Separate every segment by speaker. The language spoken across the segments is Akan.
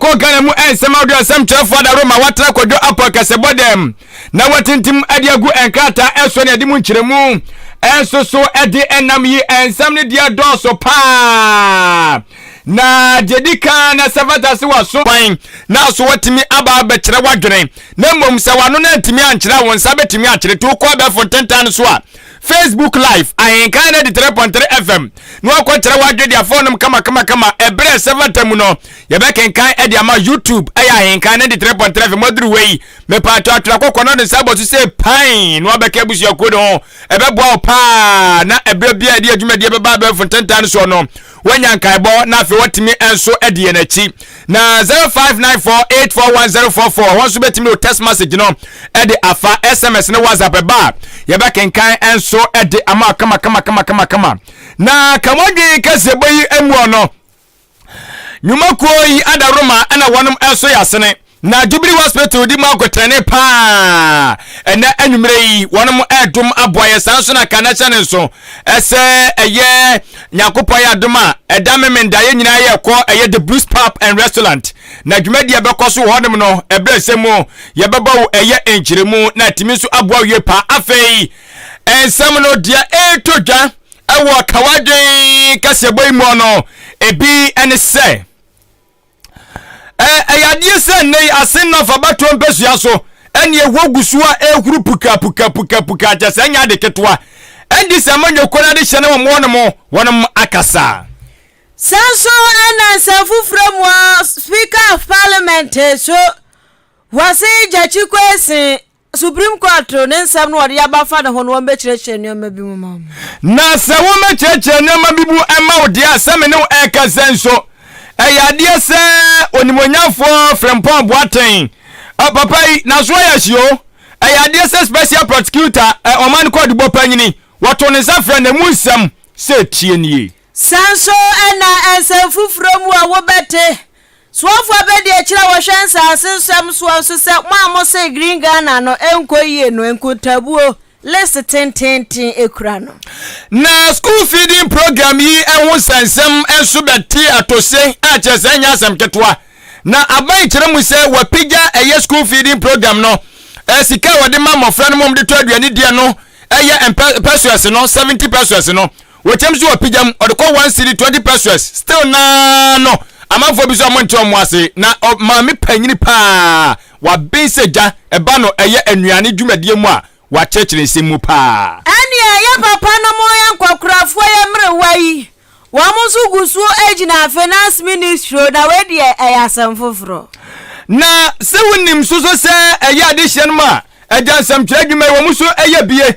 Speaker 1: Kɔ Ghana mu nsɛm ahodoɔ nsɛm kyerɛfoɔ adaworo ma wɔatra Kwadwo Apo akasɛbɔ dɛm na wɔatintim de agu nkrataa ɛsoɔ ne ade mu nkyerɛmu nso so de ɛnam yi nsɛm no deɛ dɔɔso paa na deɛ di kan na sɛ fata se wɔaso kwan na so wɔtumi aba abɛkyerɛ w'adwene na mmom sɛ w'ano no antumi ankyerɛ a wo nsa bɛtumi akyerɛ to kɔ abɛɛfo ntentan no so a Facebook Live, Ahenkan no 93.3 FM, na wakɔkyerɛ w'adwede afɔ nom kamakamakama ɛberɛ a ɛsɛ fata mu no, yɛbɛkenkan de ama YouTube, ɛyɛ Ahenkan 93.3 FM aduru wɔ yi, mepaakyɛ atwerɛ kɔkɔ na ɔde nsa abɔ so sɛ pan na wabɛka abusuakuo no ho, ɛbɛboa wo paa na ɛberɛ biara ɛde adwumadie bɛba abɛɛfo ntentan no soɔ no, Wɔanya nkaebɔ na afei wɔtumi nso adi yɛn akyi. Na 0594841044 wɔn nso bɛtumi de wo text message no de afa SMS ne WhatsApp ɛba a yɛbɛkenkan nso de ama kama kama kama kama kama. Na kamɔdwen kɛseɛ bɔ yi mu ɔno. Nnwumakuo yi ada Roma ɛna wɔnom nso yɛ asene. Na Jubilee Hospital di mu akotɛne paa ɛnɛ anwummerɛ yi, wɔnom ɛredom aboa yɛ saa nso na ka na hyɛ ne nso ɛsɛ ɛyɛ Nyankopɔn yɛ adom a ɛda memenda yɛ nyinaa yɛ kɔ ɛyɛ The Blues Pub and Restaurant na dwumadie ɛbɛkɔ so wɔ hɔnom no ɛberɛ ɛsɛ mu yɛbɛbɔ wo ɛyɛ nkyerɛmu na atumi nso aboa wo yie paa afei nsɛm no deɛ ɛretɔ dwa ɛwɔ kawadwen kaseɛbɔ yi mu no ebi ɛne sɛ Ɛyɛ adeɛ sɛ nnɛ yi ase nna fa batoɔ mpasua so ɛne ɛhɔ gu so a ɛhuru puka puka puka puka kyɛ sɛ ɛnyɛ ade ketewa ɛde sɛ ma nyɔkɔ no ade hyɛ ne wɔn wɔn mo wɔn mo akasa. Sɛ
Speaker 2: nso ɛna nsɛm foforɔ mu ɔ Speaker of Parliament so wɔse Gyakye Kwesi Supreme Court no ne nsɛm no a wɔde aba afa ne ho no, wɔmmɛkyerɛkyerɛ nneɛma bi mu ma wo. Na sɛ
Speaker 1: wɔmmɛkyerɛkyerɛ nneɛma bi mu mma wo deɛ a, sɛ me ne wo rekasa yi nso, ɛyɛ adeɛ sɛ Onimuonyamfoɔ Frimpong Boateng, ɛ, papa yi, n'aso ayɛ ahyi o, ɛyɛ adeɛ sɛ Special Prosecutor, ɛ, Ɔman Kwadubɔ Panyini, wɔto ne nsa frɛ no, ɛmu nsɛm, sɛ tie nie. Sɛ nso
Speaker 2: ɛnna nsɛm foforɔ mu a wobɛte. Soafo abadiakyiri a wɔhwɛ nsase nsɛm soa nso sɛ mo a mose Green Ghana no nkɔ yie no, nkontaabuo, list tenteenten, kura no. Na school
Speaker 1: feeding program yi ho nsɛnsɛm nso bɛte atose a kyerɛ sɛ ɛnyɛ asɛm ketewa. Na aban kyerɛ mu sɛ wɔapagya ɛyɛ school feeding program no sika a wɔde ma mmɔfra no ma wɔde tɔ aduane di no yɛ pesewas no, seventy pesewas no. Wɔkyɛm so wɔpegyam ɔde kɔ one cedi twenty pesoes still naa no amanfoɔ bi so a ɔmo nte ɔmo ase na ɔ maame panyini paa waben sɛ gya ɛba no ɛyɛ anuane dwumadie mu a wakyerɛkyerɛ nsɛm mu paa. Ɛnneɛ yɛ papa
Speaker 2: nom yɛ nkɔkorafoɔ yɛ mmerewa yi wɔn nso gu so gyina finance ministry na wei deɛ ɛyɛ asɛm foforɔ. Na
Speaker 1: sɛ wonim nso so sɛ ɛyɛ adehyeɛ nom a agya nsɛmtwerɛ adwuma yi wɔn nso yɛ bie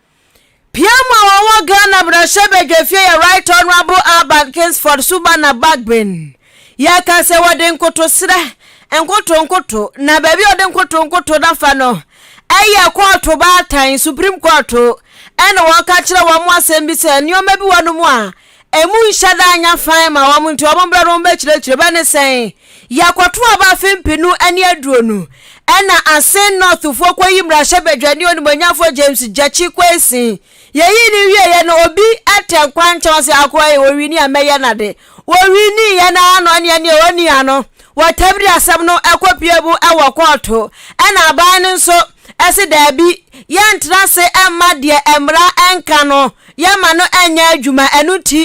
Speaker 2: Piam a ɔwɔ Ghana mmarahyɛbadwafie yɛ Right Honourable Alban Kingsford Subana Bagbin yɛ ka sɛ wɔde nkotosrɛ nkotonkoto na baabi a ɔde nkotonkoto no fa no ɛyɛ kɔɔto baatan Supreme Court ɛna wɔka kyerɛ wɔn asɛm bi sɛ nneɛma bi wɔ no mu a Emu nhyɛ da nya fann ma wɔn nti wɔn brɛ no wɔn bɛkyerɛkyerɛ bɛ ne sɛn? Yɛkɔto aba afe mpenu ne aduonu ɛna Asin North foɔ kɔyi mmarahyɛ badwani onimuonyafoɔ James Gyakye Quayson. Yɛyii no wieeɛ no obi tɛ nkwankyɛn ɔse akoa ei ɔwini a mɛyɛ nade. Ɔwiniiɛ no ara na ɔne ɛne a ɔnni ano wɔ Tabiri asɛm no kɔpue mu wɔ kɔɔto ɛna aban no nso se daabi, yɛntra ase mma deɛ mmara nka no, yɛmma no nyɛ adwuma. Ɛno nti,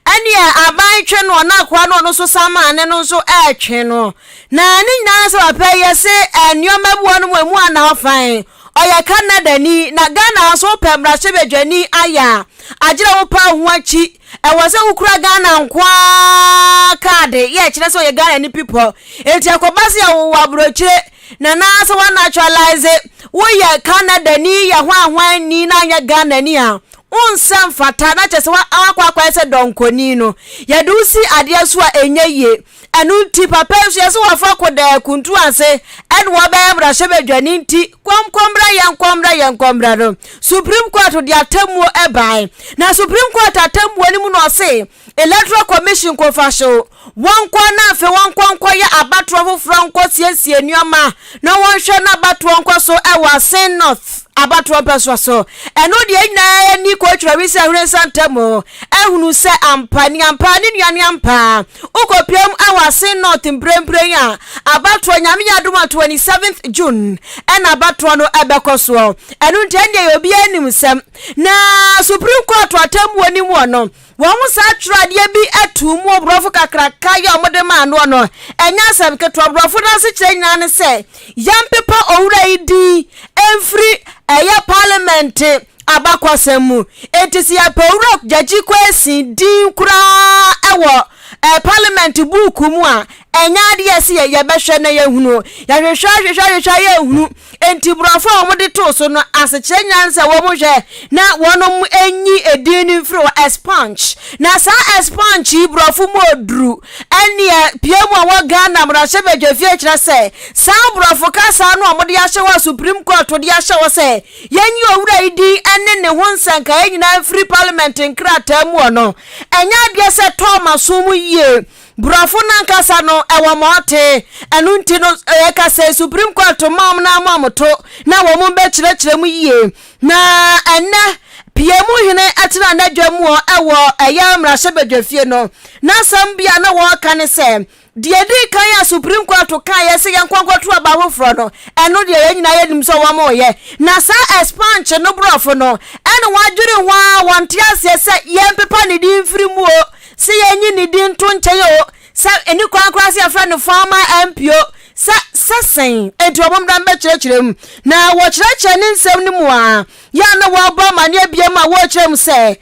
Speaker 2: ɛneɛ aban twe noɔ na akoa no ɔno nso samane no nso ɛretwe no. Na ne nyinaa sɛ wapɛ yɛ se nneɛma bi wɔ no mu emu anaafan. Ɔyɛ Canadani, na Ghana nso wopɛ mmarahyɛbadwani ayɛ a, agye dɛ wopa wo ho akyi. Ɛwɔ sɛ wokura Ghana nko ara kaade yɛ ɛkyerɛ sɛ ɔyɛ Ghanani pipɔ. Enti ɛkɔba sɛ yɛwo wɔ aburokyire, Nanaa sɛ wɔanaturalise wo yɛ Canadani yɛ ho ahwanni na anyɛ Ghanani a, wo nsɛ mfata na kyerɛ sɛ woakɔ akɔyɛ sɛ dɔnkɔni no. Yɛde wo si adeɛ so a ɛnyɛ yie. Ɛno nti papa yi nso yɛse wɔfa kodɛɛ kuntu ase ɛna wɔbɛyɛ mmarahyɛbadwani nti kɔmkɔmmra yɛnkɔmmra yɛnkɔmmra no Supreme Court de atemmuo bae na Supreme Court atemmuo no mu na ɔse Electoral Commission nkɔ mfa hyew wɔn nkoa na afei wɔnkɔ nkɔyɛ abatoɔ foforɔ nkɔ siesie nneɛma na wɔnhwɛ na abatoɔ nkɔ so wɔ Asen North abatoɔ mpɛsoa so. Ɛno deɛ yɛn nyinaa ani kɔtwira wi sɛ hwene nsa ntam o, ahunu sɛ ampa ne ampa ne nua ne ampa. Wokɔpiam wɔ Asen North mprempren a, abatoɔ Nyame yɛ adom a 27th June na abatoɔ no bɛkɔ soɔ. Ɛno nti ɛndeɛ yɛ obiara nim nsɛm na Supreme Court atemmuo no mu no, Wɔn saa twerɛadeɛ bi too mu wɔ borɔfo kakraka yɛ a wɔde maa noɔ no. Ɛnyɛ asɛm ketewa. Borɔfo no asekyerɛ nyinaa ne sɛ, Yɛmpepa owura yi din mfiri ɛyɛ Parliament abakɔsɛm mu. Enti sɛ yɛpɛ Owura Gyagye Quaison din koraa wɔ Parliament buuku mu a, ɛnyɛ adeɛ a ɛsɛ yɛ, yɛbɛhwɛ na yɛahunu. Yɛhwehwɛ hwehwɛ hwehwɛ a yɛnhunu. Enti Borɔfo a wɔde too so no asekyerɛ nya ne sɛ wɔhwɛ na wɔnyi edin no mfiri hɔ, Esponge. Na saa Esponge yi Borɔfo mu oduru ɛnneɛ pie mu a wɔ Ghana mmarahyɛbadwafie kyerɛ sɛ saa Borɔfo kasa no a wɔde ahyɛ hɔ a Supreme Court de ahyɛ hɔ sɛ yɛnyi owura yi din ne ne ho nsɛnkaeɛ nyinaa mfiri Parliament nkrataa mu no ɛnyɛ adeɛ sɛ ɛtɔɔ m'aso mu yie. Borɔfo no ankasa no, ɛwɔ ma ɔte. Ɛno nti no, yɛka sɛ Supreme Court mma wɔn na ama wɔto na wɔn bɛkyerɛkyerɛ mu yie. Na ɛnnɛ, pie mu hene tena n'adwa mu hɔ wɔ ɛyɛ mmarahyɛbadwafie no. N'asɛm bi a na wɔreka ne sɛ, Deɛ ɛdi kan a Supreme Court kaeɛ sɛ yɛnkɔ nkɔto aba foforɔ no, ɛno deɛ yɛn nyinaa yɛnim sɛ wɔreyɛ. Na saa expansion no Borɔfo no, ɛna wɔadwene ho ara, wɔnte aseɛ sɛ yɛmpepa ne din mfiri mu o, Sɛ yɛnyi ne din nto nkyɛn o, sɛ ɛni kwan koraa sɛ yɛfrɛ no former MP o, sɛ, sɛ sɛn nti wɔn mmra mmɛkyerɛkyerɛ mu. Na wɔkyerɛkyerɛ ne nsɛm no mu a, yɛ a na wɔrebɔ amanneɛ biam a wɔrekyerɛ mu sɛ,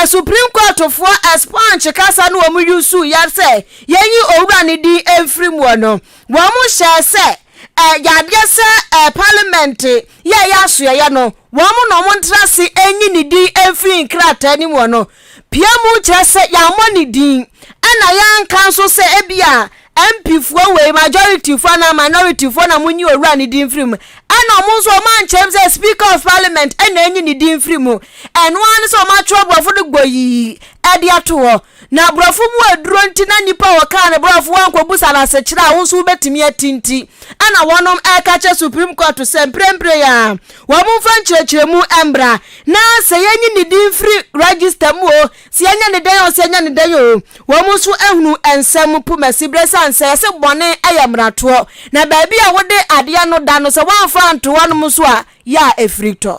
Speaker 2: Supreme Courtfoɔ expunge kasa no wɔn usuu yɛ sɛ yɛnyi Owura no din mfiri muɔ no, wɔn hyɛɛ sɛ, Ɛyɛ adeɛ sɛ Parliament yɛ ɛyɛ asoɛeɛ no, wɔn na wɔn ntra ase nyi ne din mfiri nkrataa no mu no pia mu kyerɛ sɛ yɛammɔ ne din ɛna yɛanka nso sɛ ebi a mpifoɔ wei majorityfoɔ anaa minorityfoɔ na monyi owura ne din mfiri mu ɛna wɔn nso wɔn ankyerɛm sɛ speaker of parliament ɛna enyi ne din mfiri mu ɛno ara ne sɛ wɔn atwerɛ borɔfo no gbɔ yii ɛde ato hɔ Na aborɔfo mu aduro nti na nnipa a wɔkaa no borɔfo ankɔbusa no asekyerɛ a wo nso wobɛtumi ate nti, ɛna wɔnom reka kyerɛ Supreme Court sɛ mprempren ara wɔmfa nkyerɛkyerɛmu mmra na sɛ yɛnyi ne din firi register mu o, sɛ yɛnyɛ ne dɛn o, sɛ yɛnyɛ ne dɛn o, wɔn nso ahunu nsɛm pomasi berɛ ɛsiane sɛ yɛse bɔne yɛ mmaratoɔ na baabi a wode adeɛ no da no sɛ woamfa anto hɔnom nso a, yɛ a ɛfiri tɔ.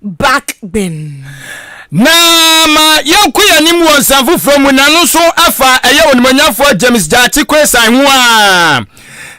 Speaker 2: Back Bin.
Speaker 1: Na ma yɛnko yɛn anim wɔ nsɛm foforɔ mu na no nso afa ɛyɛ onimuonyamfoɔ James Gyakye Quayson ho a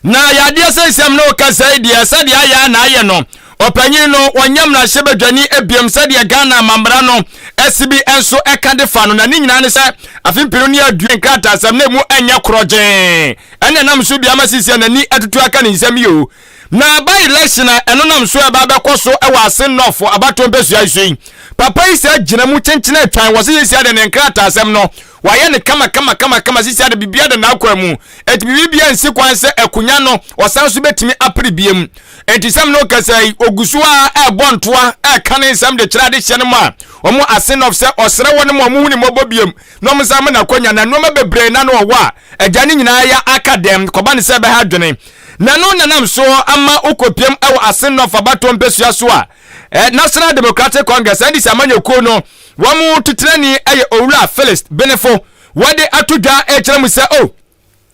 Speaker 1: na yɛ adeɛ sɛ nsɛm na ɔka sɛi deɛ sɛdeɛ ayɛ na ayɛ no ɔpanyin no ɔnyɛ mmarahyɛ badwani biom sɛdeɛ Ghana amammara no ɛsi bi nso ɛka de fa no na ne nyinaa ne sɛ afe mpenu ne aduo nkrataasɛm na ɛmu ɛnyɛ korɔgyee ɛne nam so biama sisi a n'ani atutu aka ne nsɛm yi o Na by-election a ɛno nam so a ɛba abɛkɔ so wɔ Asen North abatoɔ mpɛsua yi so yi, papa yi saa gyina mu kyenkyen atwan, wɔ se Sisi Ade ne nkrataasɛm no, wayɛ no kama kama kama kama, Sisi Ade biribiara da n'akwan mu, enti biribiara nsi kwan sɛ akonya no ɔsan so bɛtumi apere biam. Enti sɛm no kasa yi, ɔgu so ara ɛrebɔ ntoa, ɛreka ne nsɛm de kyerɛ adehyeɛ no ma wɔn Asen North sɛ ɔsrɛ wɔnom a wɔhu ne mmɔbɔ biam na wɔnsan ma no akonya, na nnoɔma bebree na na ɔwɔ a, Agya no nyinaa ya aka dɛm kɔba no sɛ ɛbɛha adwene, na ɛno na nam so ama wokopiam wɔ Asen North abatoɔ mpesua so a National Democratic Congress, NDC, amanyɔkuo no wɔn titenani yɛ Owura Phyllis Benefo wɔde ato dwa rekyerɛ mu sɛ oh,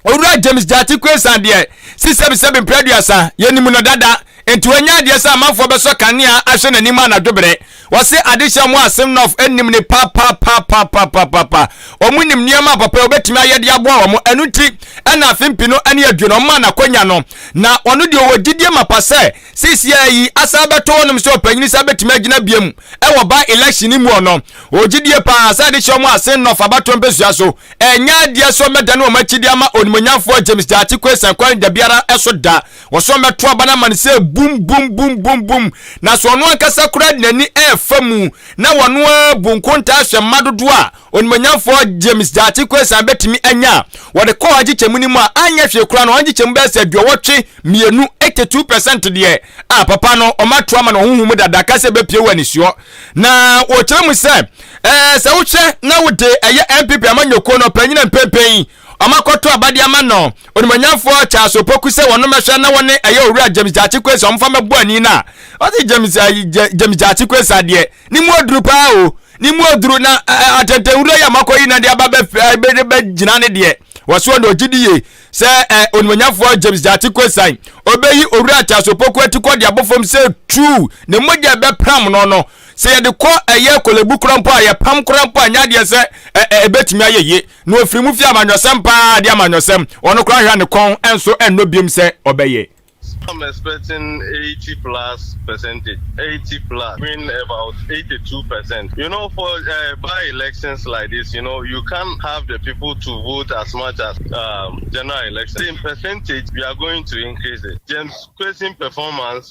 Speaker 1: Owura James Gyati Quaison deɛ si sɛbisɛbi mprɛ aduasa, yɛnim no dada, nti wanya adeɛ sɛ amanfoɔ bɛsɔ kanea ahwɛ n'anim anadwo berɛ. Wɔse adehyɛ mu a Simnoff nim no papapapapapapaapa. Wɔn nim nneɛma a papa yi wɔbɛtumi ayɛ de aboa wɔn. Ɛno nti na afe mpe no ani adwo no, wɔmaa no akɔnya no. Na ɔno deɛ ɔwɔ gyidie mapa sɛ seisiaa yi asan bɛto hɔnom sɛ ɔpanyin san bɛtumi agyina biom wɔ by election no mu. Ɔno ɔwɔ gyidie paa sɛ adehyɛ mu a Simnoff abatoɔ mpɛsua so ɛnyɛ adeɛ sɛ wɔbɛdane wɔn akyi de ama onimuonyamfoɔ James Gyakye Quayson Quain dabiara so da. wɔsɔn bɛto aba no ama no sɛ bum bum bum bum bum na so ɔno ankasa koraa de n'ani ɛrefa mu na wɔno ara bu nkontaa hwɛ mma dodoɔ a onimonyamfoɔ James Gyakye Quayson bɛtumi anya a wɔde kɔɔ agyekyɛmu no mu a anyɛ hwee koraa no agyekyɛmu bɛyɛ sɛ aduɔwɔtwe mmienu 82 percent deɛ a papa no ɔmato ama no ɔhohu mu dada ka sɛ ɛbɛpie wɔ anisoɔ na wɔkyerɛ mu sɛ ɛɛ sɛ wohwɛ na wode ɛyɛ MPP amanyɔkuo no ɔpanyina mpɛmpɛn Wɔakɔto aba de ama no Onimɔnyamfoɔ Charles Opoku sɛ wɔmmɛhwɛ na wɔne ɛyɛ Owura James Gyakye Quaison wɔmfa mmɛbɔ ani no a, ɔse James ayi James Gyakye Quaison adeɛ ne mu oduru paa o, ne mu oduru na atɛntɛnwura yi a moakɔyi no de aba bɛgyina ne deɛ wɔ soɔ no ɔgye di yie sɛ Onimɔnyamfoɔ James Gyakye Quaison ɔbɛyi Owura Charles Opoku atikɔ de abɔ fam sɛ truu ne mogya a ɛbɛpram no no sɛ yɛde kɔ ɛyɛ Korle Bu koraa mpo a yɛpam koraa mpo a ɛnyɛ adeɛ sɛ ɛbɛtumi ayɛ yie. na ɔfiri mu fie amanyɔsɛm paa de amanyɔsɛm, ɔno koraa nhwɛ a ne kɔn nso nnɔ biom sɛ ɔbɛyɛ. So I'm
Speaker 3: expecting eighty plus percentage eighty plus win about eighty two percent you know for eh by elections like this you know you can't have the people to vote as much as um general election in percentage we are going to increase it James Kwesi performance.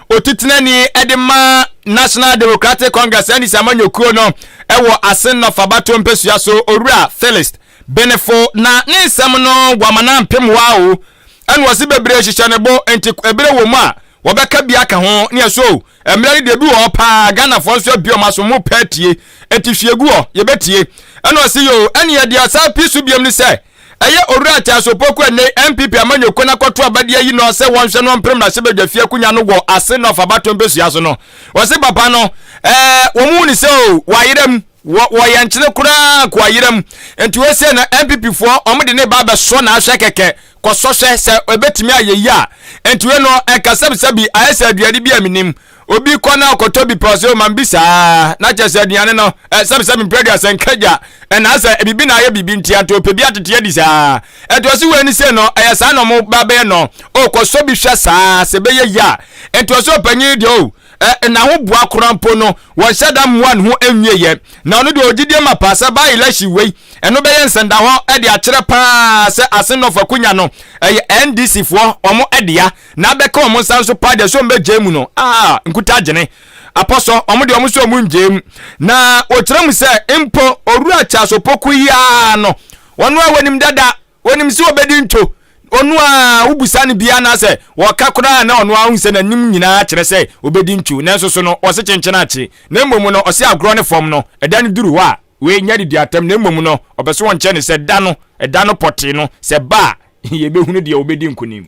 Speaker 1: Otitenani de ma National Democratic Congress, NDC, amanyɔkuo no wɔ Asennɔf abatoɔ mpasua so, Owura Philist Benefo, na ne nsɛm no wama no ampem waa o, ɛna ɔse bebree hyehyɛ ne bo, nti ɛberɛ wɔ mu a wɔbɛka bi aka ho, ne ɛso o, mmerɛ no deɛ ebi wɔ hɔ paa a Ghanafoɔ nso abue wɔn aso, wɔpɛ atie, nti hwie gu hɔ, yɛbɛtie, ɛna ɔse yoo, ɛneɛ deɛ ɔsan pii so biom ne sɛ, Ɛyɛ Owura Attaah Sopoku a ɛnnɛ yi NPP amanyɔkuo no akɔto aba de ayi no a sɛ wɔnhwɛ no wɔmpere mmarahyɛbadwafie akonya no wɔ Ase North Abatoɔ mpɛsua so no. Wɔse papa no eh wɔn hu no sɛ oh wayera mu, wɔ wɔ yɛn nkyene koraa anka wayera mu. Nti wei sei no NPP foɔ wɔn de no reba abɛsɔ no ahwɛ kɛkɛ, kɔsɔ hwɛ sɛ ɛbɛtumi ayɛ yie a. Nti wei no ɛka sɛbisɛbi ayɛ sɛ aduane bi a mennim. obi kɔ na ɔkɔtɔ bi pɔs o man bi saa na kyɛ sɛ aduane no sɛbsɛb mprɛ aduasa nkagya ɛnaa sɛ biribi na ayɛ biribi ntia nti ɔpɛ bi atete adi saa ɛtoɔ so wei ne sɛ no ɛyɛ saa na ɔmo ba bɛyɛ no o kɔsɔ bi hwɛ saa sɛ bɛyɛ yi a ɛtoɔ so ɔpanyin deɛ o na ho boa koraa mpo no wɔnhyɛ da mmoa ne ho nwieɛ na ɔno deɛ ɔgyidie ma paa sɛ baa election wei ɛno bɛyɛ nsɛnda hɔ de akyerɛ paa sɛ ase nɔfa konya no ɛyɛ ndc foɔ ɔmo ɛdea na abɛka wɔn nsa nso paa deɛ sɛ wɔn bɛgyae mu no a nkuta agyene apɔsɔ wɔn deɛ wɔn sɛ wɔn ngyae mu na wɔkyerɛ mu sɛ mpo owura Charles Opoku yi ara no ɔno a wɔnim dada wɔnim sɛ wɔbɛdi ntwo ɔno a wobusa no biara na sɛ wɔka koraa na ɔno ara sɛ n'anim nyinaa kyerɛ sɛ wɔbɛdi ntwo nanso so no ɔse kyenkyen akye na mmom no ɔse agorɔ ne fam no ɛda no duru hɔ a wei nyɛ didi atam na mmom no ɔbɛso wɔn kyɛ ne sɛ da no ɛda no pɔtee no sɛ ba a yɛbɛhunu deɛ wɔbɛdi nkonim.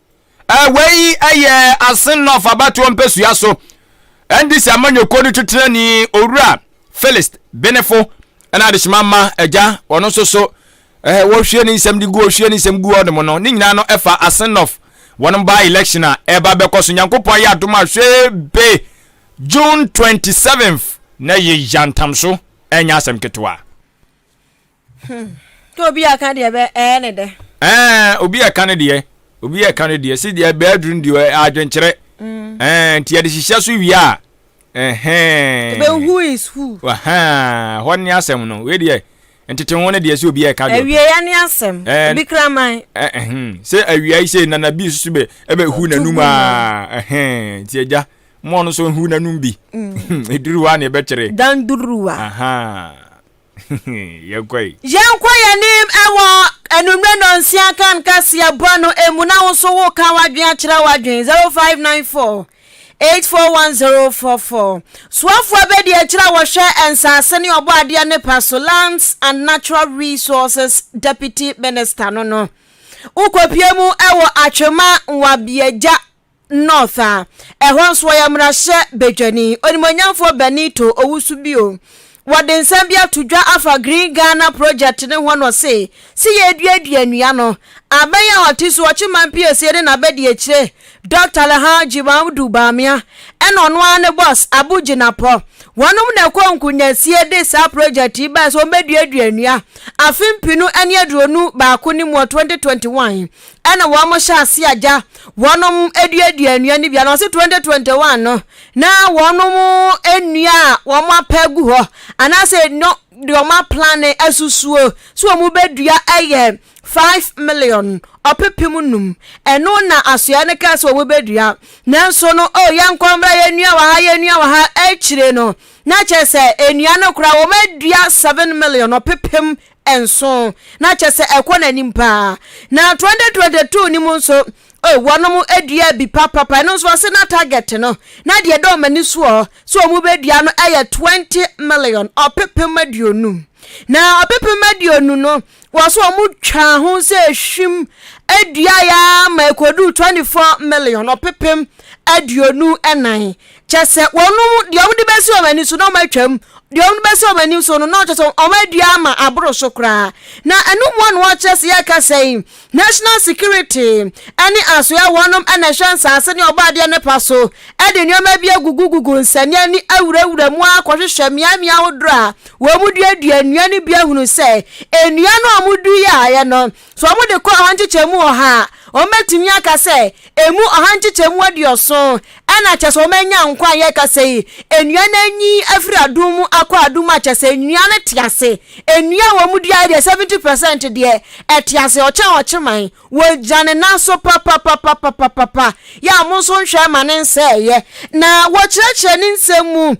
Speaker 1: Wei yɛ Asenɔf abatoɔ mpɛsua so NDC amanyɔkuo no titenani Owura Felist Benefo ɛna adehyema ma agya ɔno nso so eh, wɔhwie ne nsɛm de gu ɔhwie ne nsɛm gu ɔnom no ne nyinaa no ɛfa Asenɔf wɔn ba election a ɛba bɛkɔ so nyankopɔn ayɛ adom a hwee be June 27th na yɛ yantam so ɛnyɛ asɛm ketewa. Hmm.
Speaker 2: Tó obi a ka deɛ bɛ ɛɛ ne dɛ. Ɛɛ obi a
Speaker 1: ka ne deɛ obi a ka ne deɛ si deɛ bɛɛ duru ne deɛ adwenkyerɛ. Hmm. Ɛɛ nti yɛde hyehyɛ so wie a ɛhɛn.
Speaker 2: Bɛ who is who. Ɛhɛn hɔ ne
Speaker 1: asɛm no wei deɛ ntete ho ne deɛ sɛ obi a ɛka deɛ. Awia ya ne asɛm
Speaker 2: obi kraman. Ɛhɛn sɛ
Speaker 1: awia yi sɛ nana bi susu bɛ ɛbɛ hu n'anum a ɛhɛn nti agya mɔɔ no so hu n'anum bi. Hmm. Eduruwa ne ɛbɛkyerɛ. Dan duruwa.
Speaker 2: Ahaa.
Speaker 1: Yɛnkɔ yi. Yɛnkɔ yɛn anim
Speaker 2: wɔ anwummerɛ nnɔnsia kan kaseɛ bɔ no mu na wo nso wo ka w'adwene akyerɛ w'adwene 0594 841044. Soafoɔ bɛdi akyire a wɔhwɛ nsaase ne ɔbɔ adeɛ ne pa so Lands and Natural Resources Deputy Minister no no. Wokɔpie mu wɔ Atwema Nwabiagya North a ɛhɔ nso wɔyɛ mmarahyɛ badwani onimuonyamfoɔ Benito Owusu bio. Wɔde nsɛm bi ato dwa afa Green Ghana Project no ho na ɔse, Se yɛreduadua nnua no, abɛn a ɔte so, ɔkye man piesie ne n'abadiakyire, Dɔkta Alhaji Mamudu Bawumia ɛna ɔno ara ne bɔs, Abu Jinapɔ. Wɔnom na ɛkɔɔ nkunyasie de saa project yi bae sɛ wɔbɛduadua nnua afe mpenu ne aduonu baako no mu wɔ 2021. Ɛna wɔn hyɛ ase agya wɔn aduadua nnua no bi a na ɔse 2021 no na wɔn nnua a wɔn apɛ gu hɔ anaasɛ no de wɔn aplane asusuo so wɔn bɛdua ɛyɛ 5 million ɔpepem num ɛno na asoɛ no kaa sɛ wɔn bɛdua nanso no o yɛn nkɔmbra yɛn nnua wɔ ha yɛn nnua wɔ ha akyire no na kyerɛ sɛ nnua no koraa wɔn adua 7 million ɔpepem nson, na kyɛ sɛ ɛkɔ n'anim paa. Na 2022 no mu nso, oh, wɔnom dua bi papapa, ɛno nso ɔse na target no, na deɛ ɛda wɔn ani soɔ sɛ wɔn bɛdua no yɛ 20 million, ɔpepem aduonu. Na ɔpepem aduonu no, wɔso wɔn twaa ho sɛ ehwim dua yɛ ama ɛkɔduu 24 million, ɔpepem aduonu nan. Kyɛ sɛ wɔnom deɛ wɔde bɛsi wɔn ani so na wɔatwam, deɛ wɔde bɛsi wɔn ani so no na ɔkyɛ sɛ wɔadua ama aboro so koraa. Na ɛno mu na wɔkyerɛ sɛ yɛka sɛ yi, national security ne asoɛ wɔnom na ɛhwɛ nsaase ne ɔbɔadeɛ no pa so de nneɛma bi agugugugu nsania ne awurawura mu ara kɔhwehwɛ mmeammea ahodoɔ a wɔduadua nnua no bi ahunu sɛ nnua no a wɔduiɛ ayɛ no So wɔde kɔ ɔha nkyekyɛmu ɔha a, wɔbɛtumi aka sɛ emu ɔha nkyekyɛmu aduɔson na kyɛ sɛ wɔanya nkwa a yɛka sɛ yi, nnua no anyin afiri adum mu akɔ adum mu a kyɛ sɛ nnua no te ase. Nnua a wɔduaeɛ deɛ, 70 percent deɛ, ɛte ase, ɔkyɛn ɔkyeman. Wɔgya ne nan so papapapapapapa, yɛ a mo nso nhwɛ ma ne nsɛeɛ. Na wɔkyerɛkyerɛ ne nsɛm mu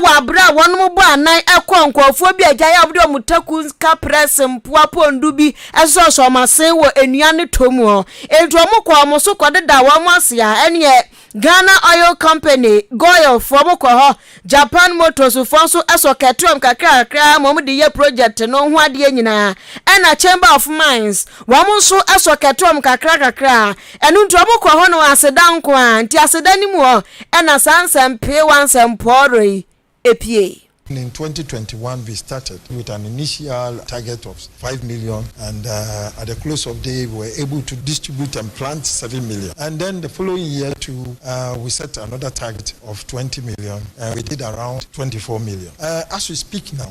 Speaker 2: Wɔ aber a wɔnom bɔɔ anan kɔr nkorɔfoɔ bi a gyae a wɔde wɔn taku nka prɛs mpoa pɔndu bi sosɔɔ sɔɔ wɔn asen wɔ nnua no tɔ mu hɔ. Enti wɔn kɔɔ wɔn so kɔdedaa wɔn ase a ɛneɛ Ghana Oil Company, Goil, foɔ wɔn kɔ hɔ, Japan Motors foɔ nso sɔ kɛtee wɔn kakra kakra ara ma wɔn de yɛ project no ho adeɛ nyinaa, ɛna Chamber of Mines, wɔn nso sɔ kɛtee wɔn kakra kakra ara. Ɛno nti ɔmo kɔ hɔ no aseda nko ara, nti aseda no mu hɔ ɛna saa nsɛmpeewa nsɛmpɔɔrɔ yi epiee. In twenty twenty one
Speaker 4: we started with an initial target of five million and at the close of day we were able to distribute and plant seven million and then the following year too we set another target of twenty million and we did around twenty four million as we speak now.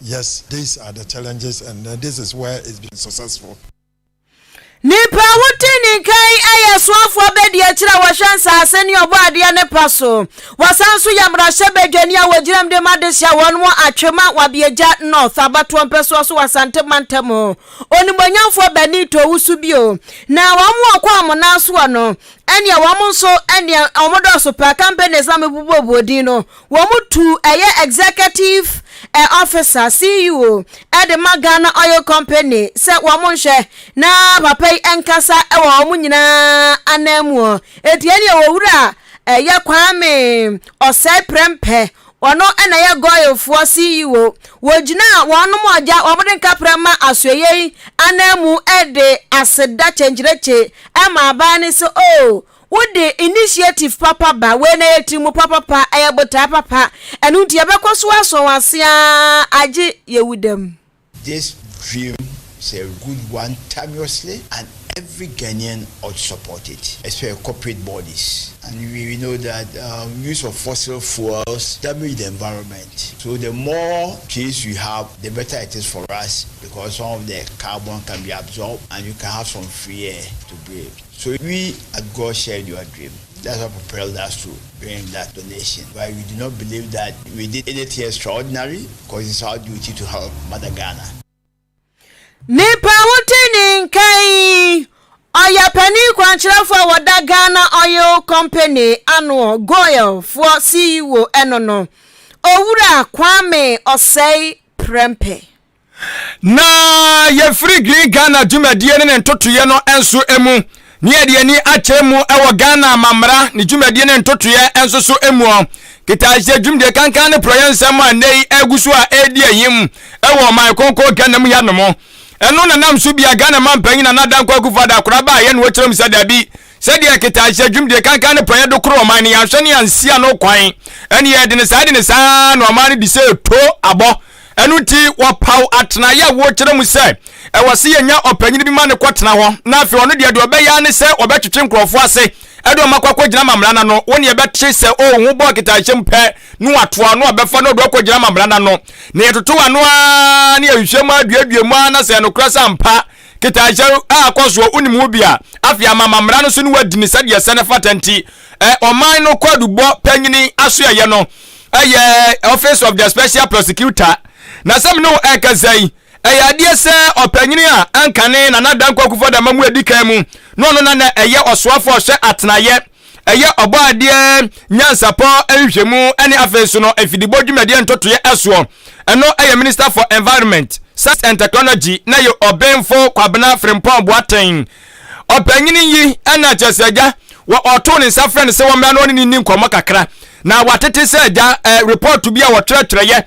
Speaker 4: Yes these are the challenges and then this is where it's been successful.
Speaker 2: Nnipa a wodi ne nkan yɛ soafoɔ abɛdi akyire a wɔhwɛ nsase ne ɔbɔadeɛ no pa so. Wɔsan nso yɛ mmarahyɛbadwani a wɔgyinam de ma adehye a wɔnom wɔ Atwema, Wabiagya North, Abatoɔ Mpɛsoa so wɔ Asante mantam. Onimuonyamfoɔ Benito Owusu bio na wɔn a wɔkɔ Amona soɔ no ɛneɛ wɔn nso ɛneɛ wɔn dɔɔso paa, companies na mebubuo buo din no Wɔn tu ɛyɛ Executive eh, Officer, CEO, ɛde ma Ghana Oil Company sɛ wɔn nhwɛ na papa yi nkasa ɛwɔ wɔn nyinaa anan mu ɔ. Eti ɛne ɛwɔ wura ɛyɛ Kwame Ɔsɛe Prɛmpɛ, ɔno ɛna ɛyɛ Goil foɔ CEO. Wɔgyina wɔnom ɔgya wɔn de nkaprɛ ma asoɛyɛ yi anan mu ɛde aseda kyenkyerekye ɛma aban no sɛ oh, Wode initiative papa ba, wei na ɛyɛ tirimu papapa, ɛyɛ botae papa, ɛno nti yɛbɛkɔ so asɔ wo ase ara agye yɛwu da mu. This
Speaker 5: dream is a good one timeously and every Ghanaian ought to support it especially corporate bodies and we we know that um, use of fossil fuels damage the environment so the more trees we have the better it is for us because some of the carbon can be absorbed and you can have some free air to breathe. So we at God shared your dream? That's what propelled us to bring that donation but we do not believe that we did anything extraordinary cause it's our duty to help mother Ghana.
Speaker 2: Nipa ho te ne nka yi, ɔyɛ panin kwankyerɛfoɔ a wɔda Ghana Oil Company ano, GOIL, foɔ CEO ɛno no, Owura Kwame Ɔsɛe Prɛmpɛ. na
Speaker 1: yɛfiri green ghana dwumadie ne ne ntotoeɛ no nso mu ne yɛde ani akyerɛ mu wɔ ghana amamara ne dwumadie ne ntotoeɛ nso so mu ɔ ketaahyɛ dwumadie kankan ne porɔyɛ nsɛm a nnɛ yi agu so a ɛredi ahim wɔ ɔman kɔnkɔ ghana mu yanom ɛno nanam so bia ghana ma mpanyin na nada nkɔ akufo ada akora ba a yɛne wɔkyerɛ mu sɛ dabi sɛdeɛ ketaahyɛ dwumadie kankan ne porɔyɛ do koro ɔman ne yɛahwɛ ne yɛansia no kwan ɛne yɛde ne saa de ne saa na ɔman no de sɛ to abɔ Ɛno nti, wɔpaw atenae a wɔkyerɛ mu sɛ ɛwɔ sɛ yenya ɔpanyin bi ma no kɔtena hɔ, na afei ɔno deɛ, deɛ ɔbɛyɛ ara ne sɛ ɔbɛtwetwe nkurɔfo ase de wɔn akɔ akɔgyina amammerɛ no ano. Wo nea ɛbɛte sɛ o ho bɔ nkitaehyɛ mu pɛ no watoa ɔno a ɔbɛfa no ɔde akɔgyina amammerɛ no ano, na yɛtotow ano ara na yɛhwehwɛ mu ara duadua mu ara na sɛ ɛyɛ nokorɛ sɛ ampa nkitaehyɛ a akɔ soɔ wonim ho bi a, afei ama amammerɛ no so na wɔadi no sɛdeɛ ɛsɛ na ɛfata nti. Ɔman no Kwaadubɔ Panyin Asoɛeɛ no Ɛyɛ Office of the Special Prosecutor. Na sɛ me ne wo ɛrekasa yi, ɛyɛ adeɛ sɛ ɔpanyin a ankane Nana Dankwa Akufo Addo ama mu edi kan mu na ɔno na na ɛyɛ ɔsoafo a ɔhwɛ atenaeɛ, ɛyɛ ɔbɔ adeɛ nyansapɔ nhwehwɛmu ne afei nso no mfidibɔ dwumadie ntotoeɛ ɛsoɔ. Ɛno ɛyɛ Minister for Environment, Science and Technology na ɛyɛ Ɔbenfo Kwabena Frimpong Boateng Ɔpanyin yi anya nkyerɛase sɛ agya wɔ ɔtoo ne nsa frɛ no sɛ wɔmmra na ɔne no nni nkɔmmɔ kakra. Na wɔatete sɛ agya ɛ repɔɔto bi a wɔtwerɛtwerɛeɛ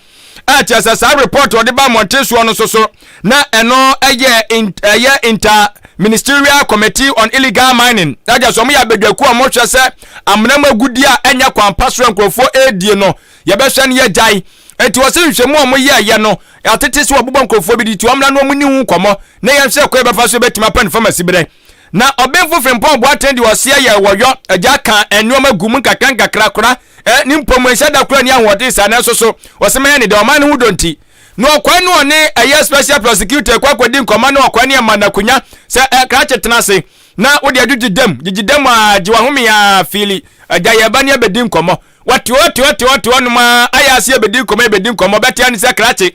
Speaker 1: a ɛkyerɛ sɛ saa repɔɔto a ɔde baa mmɔnten soɔ no nso so na ɛno yɛ ɛyɛ inter Ministerial Committee on Illegal Mining agya so wɔn yɛ abadwakuo a wɔhwɛ sɛ amena mu agudeɛ a ɛnyɛ kwan pa so a nkurɔfoɔ ɛredie no yɛbɛhwɛ no yɛgyae Enti ɔse nhwɛmu a ɔmo yɛɛyɛ no atete sɛ wɔbobɔ nkorɔfoɔ bi de ti ɔmmra na ɔmo nni ho nkɔmmɔ na yɛnhwɛ ɛkwan a yɛbɛfa so a yɛbɛtumi apɛ no fam asiberɛ. Na Ɔbenfo Frimpong Boateng de ɔse ɛyɛɛ wɔ yɔ agya ka nnoɔma gu mu nkakrankakra kora ɛ ne mpɔ mu ɛnhyɛ da kora nni ahoɔden saa nanso so ɔse mɛyɛ ne dɛ ɔman no ho dɔ nti na ɔkɔɛ na ɔne ɛyɛ Special Prosecutor ɛkɔ akɔdi nkɔmmɔ na ɔkɔɛ na yɛma no akonya sɛ ɛ krakye tena ase na wode adwudwi dam gyegye dam aa gye wahome aa fiili agya yɛɛba na yɛbɛdi nkɔmmɔ Wɔte hɔ, te hɔ, te hɔ, te hɔnom a, ayɛ ase ɛbɛdi nkɔmmɔ, ɛbɛdi nkɔmmɔ, ɔbɛtea ne sɛ krakye.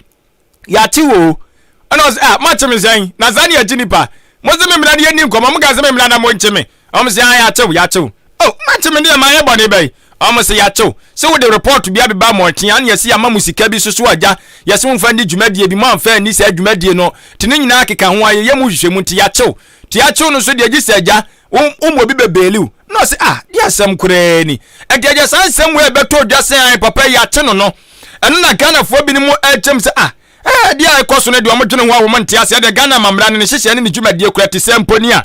Speaker 1: Yɛakye wo o. Ɛna ɔse, ah, moakye me sɛn? Na saa ne yɛkye nnipa. Mose me mmra na yɛnni nkɔmmɔ, mokaa sɛ me mmra na monkye me. Wɔn se, ae, yɛakye wo, yɛakye wo. Oh, moakye me deɛ, mayɛ bɔne bɛn? Wɔn se, yɛakye wo, se wode report bi abeba mmɔnten a na yɛse yɛama mo sika bi soso agya, yɛse momfa nni dwumadie bi, moamfa anni saa dwumadie no, te ne nyinaa keka ho a, yɛyɛ mo nhwehwɛmu, nti yɛakye wo. Nti yɛakye wo no nso deɛ gye sɛ agya, Wo wo mu obi bɛ beeli wo. Na ɔse ah deɛ asɛm koraa ni. Ɛnti ɛdeɛ saa nsɛm wei bɛtɔ dwa sɛ ae papa yi yɛakye no no. Ɛno na Ghanafoɔ binom ɛrekyɛ mu sɛ ah ɛɛ adeɛ a ɛkɔ so no deɛ wɔdwene ho a wɔn nte aseɛ deɛ Ghana amammara ne ne nhyehyɛɛ ne ne dwumadie kura te sɛ mpo ni a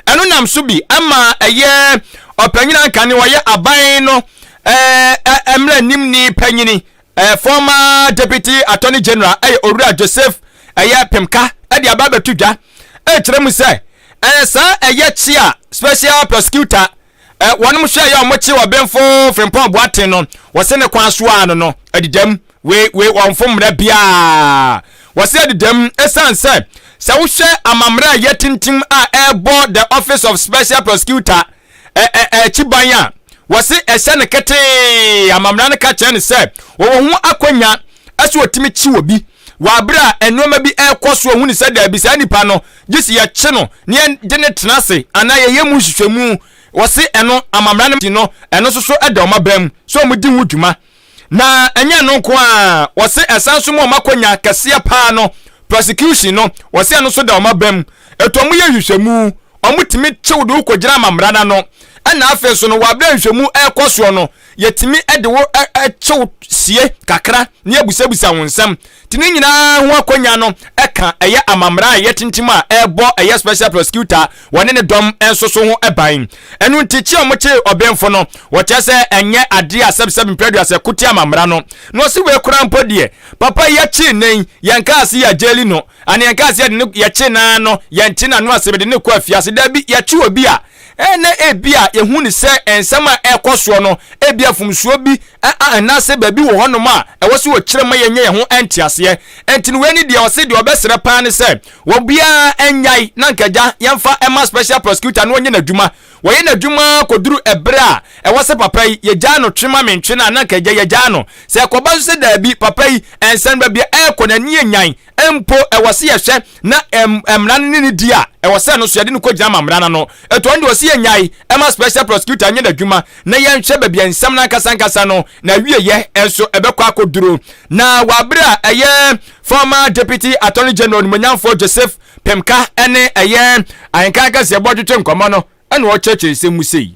Speaker 1: ɛno nam so bi ɛma ɛyɛ ɔpanyin anka ne ɔyɛ aban no ɛɛ ɛɛ mmara nimni panyini Eh, former Deputy Attorney General ɛyɛ Owura Joseph ɛyɛ Pemka ɛde aba abɛto dwa ɛkyerɛ mu sɛ ɛɛ saa ɛyɛ kye a Special Prosecutor ɛ wɔn mo hwɛ yɛ wɔn kye ɔbenfo Frimpong Boateng no wɔsi ne kwan so ano no ɛde dɛm wei wei wɔn fo mmerɛ biara wɔsi ɛde dɛm ɛsan sɛ sɛ wohwɛ amammerɛ a ɛyɛ tintim a ɛɛbɔ the Office of Special Prosecutor akyi ban a, wɔse ɛhyɛ no ketee a amammerɛ no ka kyerɛ no sɛ wɔwɔ ho akwanya sɛ wɔtumi kyi obi wɔ abere a nneɛma bi ɛrekɔ so ɔhu no sɛ daabi saa nipa no gye sɛ yɛkye no na yɛde no tena ase anaa yɛyɛ mu nhwehwɛmu wɔse ɛno amammerɛ no no ɛno nso so da wɔn aban mu sɛ wɔn di ho dwuma Na ɛnyɛ ɛno nko ara, wɔse ɛsan nso ma wɔn akɔnya kɛseɛ paa no, prosecution no, wɔse ɛno nso da wɔn abam. Ɛto wɔn yɛ nhwehwɛmu, wɔn tumi kyew de wo kɔgyina ama mmara no ano. Ɛna afei nso no, wɔ abere a nhwehwɛmu ɛrekɔ soɔ no, yɛtumi de wo kyew sie kakra na yɛabusabusa wo nsɛm Te ne nyinaa ho akwannya no ka ɛyɛ amammara a ɛyɛ tintim a ɛrebɔ ɛyɛ special prosecutor wɔ ne ne dɔm nso so ho ban. Ɛno nti kye a wɔkyee ɔbenfo no wɔkyerɛ sɛ ɛnyɛ ade a sɛbsɛb mprɛduasa ɛko tia amammara no. Na ɔse wei koraa mpo deɛ papa yi yɛkyee nnɛ yi yɛnkaa se yɛagyeli no anaa yɛnkaa se yɛde no yɛkye no ara no yɛnte n'ano ase mede no rekɔ afiase. Dabi yɛkye obi a Ɛnnɛ ebia yehu no sɛ nsɛm a ɛrekɔ soɔ no ebia mfomsoɔ bi anaasɛ baabi wɔ hɔnom a ɛwɔ sɛ wɔkyerɛ ma yɛnya yɛn ho nteaseɛ. Enti no wei ne deɛ ɔse deɛ ɔbɛsrɛ paa ne sɛ obiara nnyae na anka agya yɛmfa ma special prosecutor na ɔnyɛ n'adwuma. Wɔyɛ n'adwuma ara kɔduru ɛberɛ a ɛwɔ sɛ papa yi yɛgyaa no twe ma mentwe no a na anka agya yɛgyaa no. Sɛ ɛkɔba nso sɛ daabi papa yi ɛnsɛn baabi a ɛrekɔ no ani yɛ nyan mpo ɛwɔ se yɛhwɛ na mmara no ne ne di a, ɛwɔ sɛ ɛno so yɛde no kɔgyina ma mmara no ano. Ɛto ɔno deɛ ɔse yɛnyae ɛma special prosecutor nyɛ n'adwuma na yɛnhwɛ baabi a nsɛm no ankasa ankasa no n'awieɛ nso ɛbɛkɔ akɔduro. Na wɔ abere a ɛyɛ former Deputy Attorney General Onimonyamfoɔ Joseph Pemka ne ɛyɛ Ahenkan Kɛseɛ bɔ retwetwe nkɔmmɔ no ɛna ɔkyerɛkyerɛ nsɛm mu sei.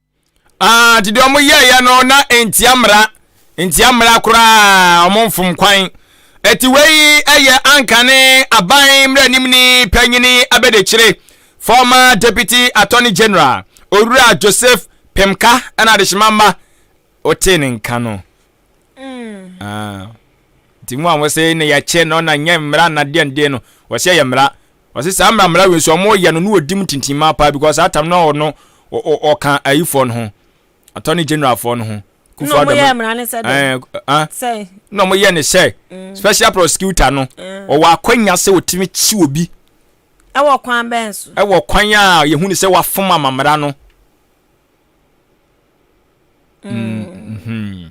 Speaker 1: nti deɛ wɔn yɛɛyɛ no na ntia mmara ntia mmara koraa wɔn mfom kwan ɛti wei ɛyɛ anka ne aban mmerɛnim ne panyini abɛdekyire former deputy attorney general owura joseph pemka ɛna adehyema mma ɔtee ne nka no nti mu a wɔsɛ na yɛkyɛ no na nyɛ mmara na deɛn deɛ no wɔsɛ yɛ mmara wɔsɛ saa mmara mmara wei nso wɔyɛ no na wɔdi mu tintin ma paa because saa tam no ɔno ɔka ayifoɔ no ho attorney general foɔ no ho kufu adama na wɔyɛ
Speaker 2: mmara no sɛ dɛ na wɔyɛ ne
Speaker 1: sɛ mm. special prosecutor no mm. ɔwɔ akwanya sɛ wɔtumi kyi wɔ bi ɛwɔ
Speaker 2: kwan bɛn so ɛwɔ kwan a
Speaker 1: yɛhu ne sɛ wafom amamara no Mm-hmm.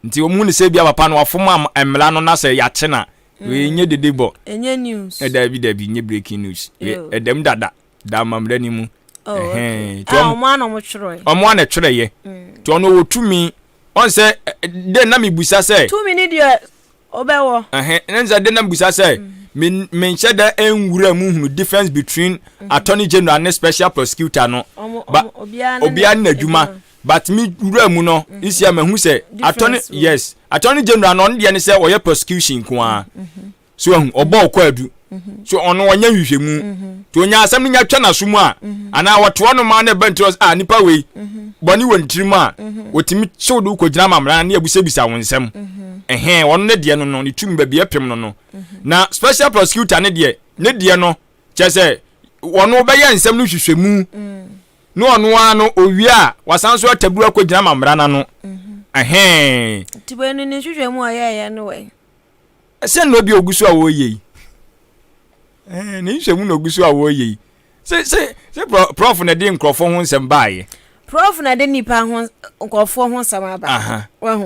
Speaker 1: nti wɔn mu ne sɛ bia papa no wafom mmara no na sɛ yɛakye na wei mm. nye dede bɔ ɛnyɛ news
Speaker 2: ɛdaabi daabi nye breaking
Speaker 1: news ɛdɛm dada da amammerɛ no mu oh, ɔmo ana ɔmo
Speaker 2: twerɛ ɔmo ana twerɛ yɛ
Speaker 1: mm. nti ɔno wɔ tumi ɔn sɛ dɛ na mebusa sɛ tumi ne deɛ
Speaker 2: Ɔbɛwɔ. Ɛhɛ, ne sɛ de na
Speaker 1: bisa sɛ me me nhyɛ da nwura mu hunu difference between mhm. attorney general ne special prosecutor no ba obiara ne n'adwuma but me wura mu no mhm. nsia mahu sɛ attorney yes attorney general no ɔno deɛ ne sɛ ɔyɛ prosecution nko ara mhm. so ahu ɔbɔ ɔkɔ adu so ɔno ɔnyɛ nhwehwɛmu nti ɔnya asɛm no nya twa n'aso mu a anaa wɔtoa no ma no ɛbɛ nti a nipa wei bɔne wɔ ne tirim a wɔtumi kyew de wokɔgyina amammerɛ ne abisabisa wo nsɛm ɛhɛn ɔno ne deɛ no no ne tumi baabi apem no no na special prosecutor ne deɛ ne deɛ no kyɛ sɛ ɔno bɛyɛ nsɛm no hwehwɛmu ne ɔno ara no owie a wasan so ataburu akɔgyina amammerɛ no ano ɛhɛn nti wei no
Speaker 2: ne nhwehwɛmu a ɔyɛɛyɛ no wɛn Ɛsɛn na
Speaker 1: obi ogu so a ɔreyɛ yi. Ɛɛ ne nhwɛmu na ogu so a ɔreyɛ yi. Se se se prɔf na ɛde nkurɔfoɔ ho nsɛm baayɛ. Prɔf na ɛde
Speaker 2: nipa ho nkurɔfoɔ ho nsɛm aba. Wahu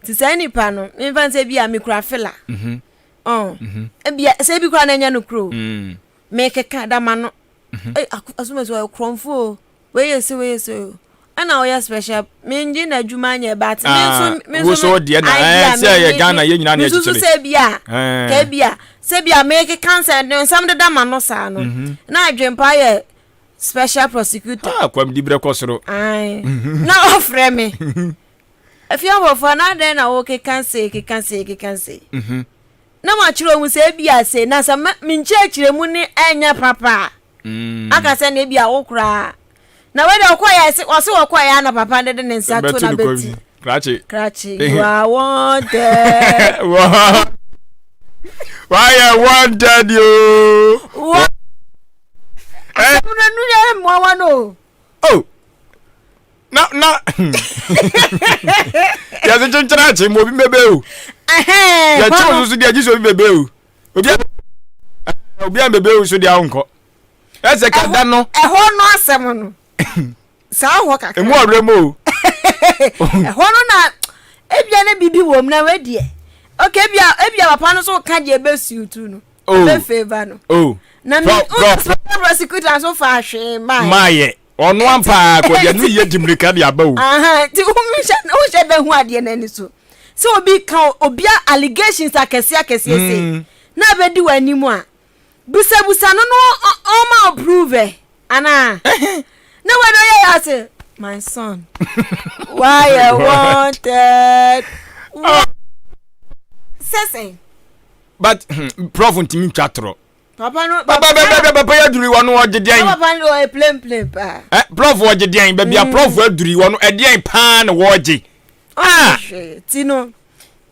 Speaker 2: nti saa nipa no mefa nsɛ bi a mekura fila. Mhm. Ɔn mhm. ebia sɛ ebi kura na ɛnyɛ no kuro. Mm. Mekeka dama no. Mhm. Asomasi ɔyɛ kurɔnfoɔ o. Weye se weye se o ɛna woyɛ special mengye na adwuma nyɛ but me ah, nso me nso so
Speaker 1: deɛ na ɛɛ sɛ ɛyɛ Ghana yɛ nyinaa na ɛkyekyere nso sɛ bi a eh.
Speaker 2: ka bi a sɛ bi a meke cancer nsɛm deda ma no saa no mhm. na adwempa yɛ special prosecutor ah kwam di brɛ kɔ soro
Speaker 1: ai mhm. na
Speaker 2: ɔfrɛ me afie abɔfoɔ na adɛn na wokeka se keka se keka se mhm. na makyerɛ ɔmu sɛ bi a se na sɛ menkyerɛkyerɛ mu ne ɛnyɛ papa a aka sɛ na ebi a wo koraa na wei deɛ ɔkɔɛ a ɛse ɔse ɔkɔɛ ya na papa no de ne nsa to na bɛti krakye krakye you are wanted
Speaker 1: wayɛ wanted yoo wa
Speaker 2: asɛm no nu yɛ mmoa wa no oh na
Speaker 1: na yɛse kyenkyerakye ma obi bɛbɛ o yɛkyew so so deɛ gye sɛ obi bɛbɛ o obi a eh, obi a mbebe nso deɛ ahonkɔ ɛsɛ ka da no. ɛhɔ no asɛm no
Speaker 2: saa hɔ kakra. emu ɔwura mu o. ɛhɔ no na ebia ne bibi wɔ mu na wɛ deɛ ok ebia ebia papa no so ka deɛ ebe siw tu no oh. ebe feva no. Oh. na mi n sọ prosecutor nso fa ahwee maa yɛ. maa yɛ
Speaker 1: ɔno ampa akɔdeɛ no yɛ dimirika de aba o. ti wohyɛ
Speaker 2: wohyɛ bɛ hu adeɛ n'ani so. sɛ obi ka obi a allegations akɛse akɛse ese mm. na abedi w'anim a busabusa no no ɔma o prove ɛ anaa na wei no yɛ ase my son why I wanted sɛsɛn. but
Speaker 1: hmm, prof ntumi ntwa torɔ papa no papa
Speaker 2: bɛ bɛ bɛ papa yɛ duri
Speaker 1: wɔn no ɔgye deɛn papa no ɔyɛ plem
Speaker 2: plem paa ɛ prɔfo ɔgye deɛn
Speaker 1: baabi a prɔfo mm. aduri wɔn no ɛdeɛn paa na wɔgye ah
Speaker 2: ti no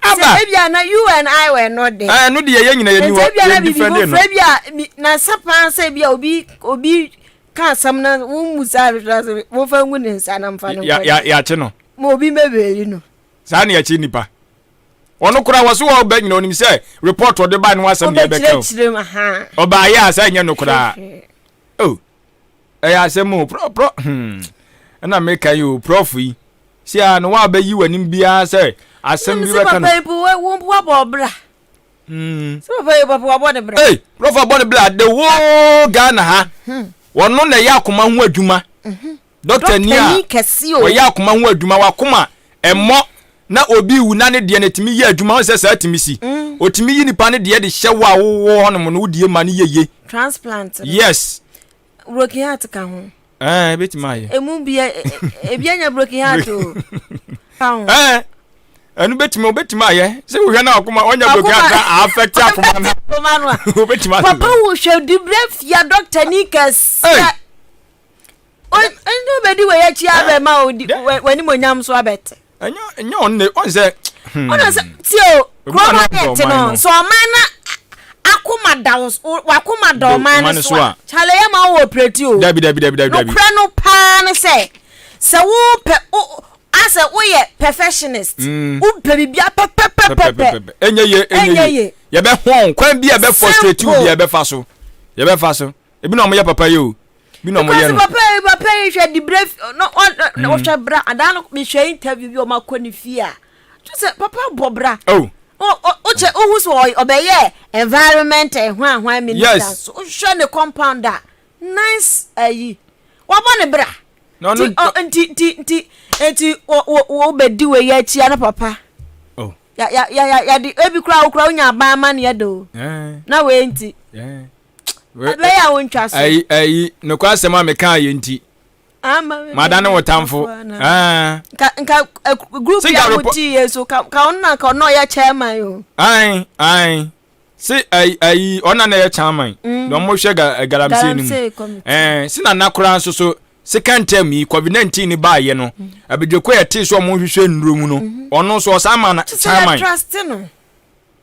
Speaker 2: aba sɛ ebi a na you and i were not there ɛɛ no deɛ yɛ nyina yɛ ni hɔ
Speaker 1: yɛ different no ebi a
Speaker 2: bi na nsa paa sɛ ebi a obi obi ka asɛm na wɔn mu sa ahwehwɛ asɛm wɔn fa ngu ne nsa na nfa ne nkɔ yɛ yɛ yɛ akyi no
Speaker 1: ma obi mɛ bɛyi
Speaker 2: no saa na yɛ akyi nipa.
Speaker 1: Ɔno koraa wɔse wɔ ɔba nyina onim sɛ report ɔde ba ne ho asɛm deɛ ɛbɛka o. Ɔbaa yɛ a sɛ ɛnyɛ no koraa. Oh, ɛyɛ asɛm o prɔ prɔ hmm. Ɛna meka yi o prɔfo yi. Si a no wabɛyi w'anim biara sɛ asɛm bi bɛka no. Sɛ papa yi po wɔn po wabɔ
Speaker 2: ɔbra. Hmm. Sɛ papa yi papa wabɔ ne bra. Hey, prɔfo abɔ ne bra
Speaker 1: the whole Ghana ha. Hmm. Wɔn no na ɛyɛ akoma ho adwuma. Hmm. Dɔktani a ɔyɛ akoma ho adwuma, wakoma ɛmmɔ na obi wu na ne deɛ no tumi yɛ adwuma ho sɛ saa tumi si. Ɔtumi yi nipa no deɛ de hyɛ wo a wowɔ hɔ nom no wo die ma no yɛ ye. Transplant.
Speaker 2: Yes.
Speaker 1: Broken heart
Speaker 2: ka ho. Ɛɛ eh, ebetumi ayɛ.
Speaker 1: Emu bi e, e,
Speaker 2: e, ebi anya broken heart o. Ka ho. Ɛɛ
Speaker 1: ɛnu betumi obetumi ayɛ sɛ wohwɛ na akoma ɔnya broken heart na affect akoma na. Obetumi ayɛ. Papa wo hwɛ
Speaker 2: dibire fia dɔkita ni kɛse. ɛnyɛ obɛdi wei akyi abɛma w'animonyam so abɛte ɛnyɛ ɔnne ɔnsɛ
Speaker 1: ɔna sɛ tie o
Speaker 2: kurom ayɛ te no sɛ ɔman na akoma da wakoma da ɔman no so a kyale yɛ ma wowɔ prɛti o nokorɛ
Speaker 1: no
Speaker 2: paa no sɛ sɛ wopɛ asɛ woyɛ perfectionist mm. wopɛ biribia pɛpɛpɛpɛpɛ ɛnyɛ ye ɛnyɛ
Speaker 1: ye yɛbɛhɔn kwan bi a ɛbɛ frustrate wo bi a ɛbɛfa so yɛbɛfa so ebi na ɔmo yɛ papa yi o bi na ɔmo yɛ no. papa yi papa yi hwɛ
Speaker 2: di bere na ɔhwɛ mm. bra adaa no mehwɛ interview bi ɔmo akɔ ne fie a kyerɛ sɛ papa bɔ bra. Oh. wokyɛ wohu sɛ ɔbɛyɛ environment ɛhwanhwan eh, minister so wohwɛ ne compound a nice ayi wabɔ ne bra nti nti nti nti wobɛdi wɔ yɛ akyia no papa oh. yɛde ebi kora wokora wonya aban ma ne yɛde o eh. na wei nti eh. ɛbɛyɛ wo ntwa so ayi ayi nokwa asɛm
Speaker 1: a meka yɛ nti mada ne wo tamfo ah.
Speaker 2: nka nka eh, group ya wo ti yɛ so ka ka ɔno na ka ɔno ɔyɛ chairman o ayi ayi si
Speaker 1: ayi ayi ɔna na yɛ chairman mm. na ɔmo hwɛ ga eh, galamsey no mu ɛɛ eh, si na nakora nso so second term yi covid nineteen ni ba yɛ no mm. abidjoko yɛ te so ɔmo hwehwɛ nnuro mu no mm-hmm. ɔno nso ɔsan ma na chairman.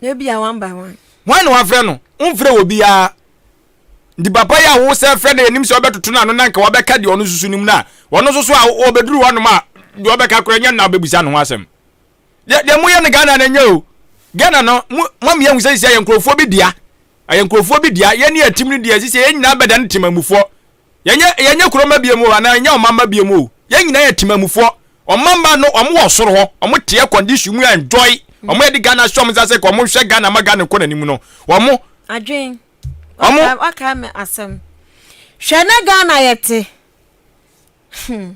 Speaker 1: Na ebia
Speaker 2: one by one. Hwan na wafrɛ no?
Speaker 1: Womfrɛɛ obiara. Nti papa yi a wosan frɛ no yɛnim sɛ wobɛtoto no ano na anka wabɛka deɛ ɔno susu no mu no a, ɔno nso so a ɔbɛduru hɔnom a, deɛ ɔbɛka koraa nyɛ na wobɛbisa no ho asɛm. Deɛ deɛ moyɛ no Ghana no nyɛ o. Ghana no, mo ma me ahu sɛ sisi a yɛ nkurɔfoɔ bi dea. Ɛyɛ nkurɔfoɔ bi dea. Yɛne atim no deɛ sisi a yɛn nyinaa bɛdane temamufoɔ. Yɛnyɛ yɛnyɛ kuro mma biom o anaa yɛnyɛ ɔman mma biom o, yɛn nyinaa yɛ Temanmufoɔ. Ɔman mma no, wɔn wɔ soro hɔ, wɔn te air condition mu enjoy, wɔn yɛde Ghana ahyɛ wɔn nsa sɛ ka wɔn nhwɛ Ghana mma Ghana nkɔ n'anim no, wɔn. Adwen,
Speaker 2: waka waka me asɛm. Hwɛ na Ghana yɛ te. Hmm.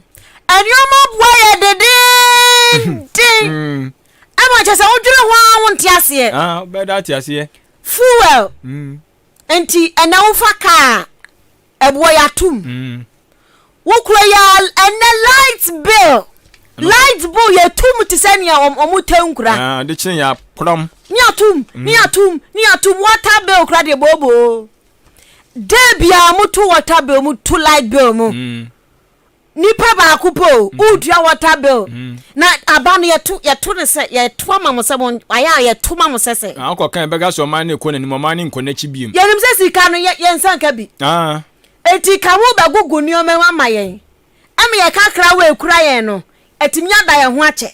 Speaker 2: Nneɛma boa yɛ dedeenden. Hmm. Ɛma kyɛ sɛ wodwene ho a wonte aseɛ. Ah, bɛda ate aseɛ.
Speaker 1: Fuel. Mm.
Speaker 2: Nti ɛnɛ wofa kaa a, ɛboɔ yi atom. Wo kuro yi ara ɛnɛ light bill, light bill yɛtom te sɛ nea wɔn tɛ nkura. Ah, de kyene yɛ akorɔm.
Speaker 1: Ne atom,
Speaker 2: ne atom, ne atom. Water bill kura deɛ booboo. Dɛ biara moto water bill, moto light bill mu. Nipa baako po o, mm-hmm. wodua water bill. Mm-hmm. Na aba no yɛto yɛto no sɛ yɛto ama mo sɛ mo ayɛ a yɛto ma mo sɛ sɛ. Na akɔ kan bɛka sɛ ɔman
Speaker 1: no ekɔ n'anim ɔman no nkɔ n'akyi biem. Yɛnim sɛ sika no yɛ
Speaker 2: yɛn nsa nka bi. Ah. Eti ka ho bɛgugu nneɛma ho ama yɛn. Ɛmi yɛ kakra wɔ ekura yɛn no, etimi ada yɛn ho akyɛ.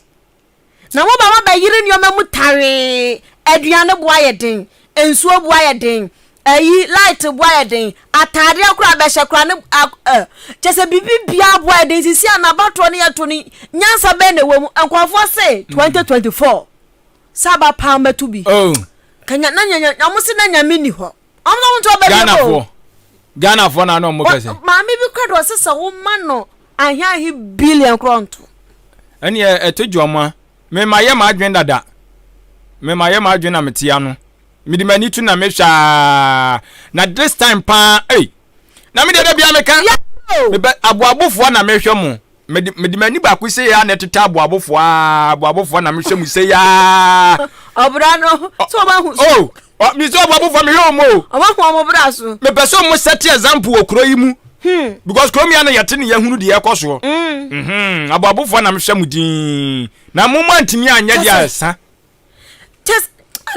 Speaker 2: Na moba ma bɛyere nneɛma mu tawee, aduane bo ayɛ den, nsuo bo ayɛ den, ayi light bo ayɛ den, ataadeɛ koraa a bɛhyɛ koraa ne a ɛ kyɛ sɛ biribi biara bo ayɛ den sisi a n'abatoɔ no yɛto no nyansa bɛn na ɛwɔ mu nkurɔfoɔ se 2024 sɛ aba paa mɛto bi oh. Kanya na nyanya na wɔn se na nyame ni hɔ. ɔmo na ɔmo ntɔ bɛ Ghana foɔ Ghana foɔ
Speaker 1: na ɔmo kɛse. maame bi kura do ɔsɛ
Speaker 2: sɛ wɔn ma no ahiahi billion korɔ nto. ɛni ɛ
Speaker 1: ɛto gye ɔmo a mɛma yɛ ma adwene dada mɛma yɛ ma adwene na mɛte ano mɛde ma ni tu na mɛhwɛ aa na this time paa ɛy na mɛde ɛdɛ bia mɛka mɛbɛ aboabofoɔ na mɛhwɛ mo. mede mede m'ani baako sɛ yɛ a na ɛtete aboabofoɔ aa aboabofoɔ na mehwɛ mu sɛ yɛ aa ɔbra no
Speaker 2: sɛ ɔbɛhu so o oh, me sɛ aboabofoɔ
Speaker 1: mehwɛ wɔn o ɔbɛhu wɔn bra so
Speaker 2: mepɛ sɛ wɔn sɛte
Speaker 1: example wɔ kuro yi mu hmm. because kuro mmea no yɛte ne yɛhunu deɛ ɛkɔ soɔ hmm. mhm. aboabofoɔ na mehwɛ mu din na mo mu antumi anyɛ deɛ ɛsa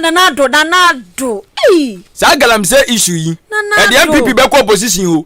Speaker 1: nanado
Speaker 2: nanado
Speaker 1: saa galamsey issue yi ɛdeɛ npp bɛkɔ opposition o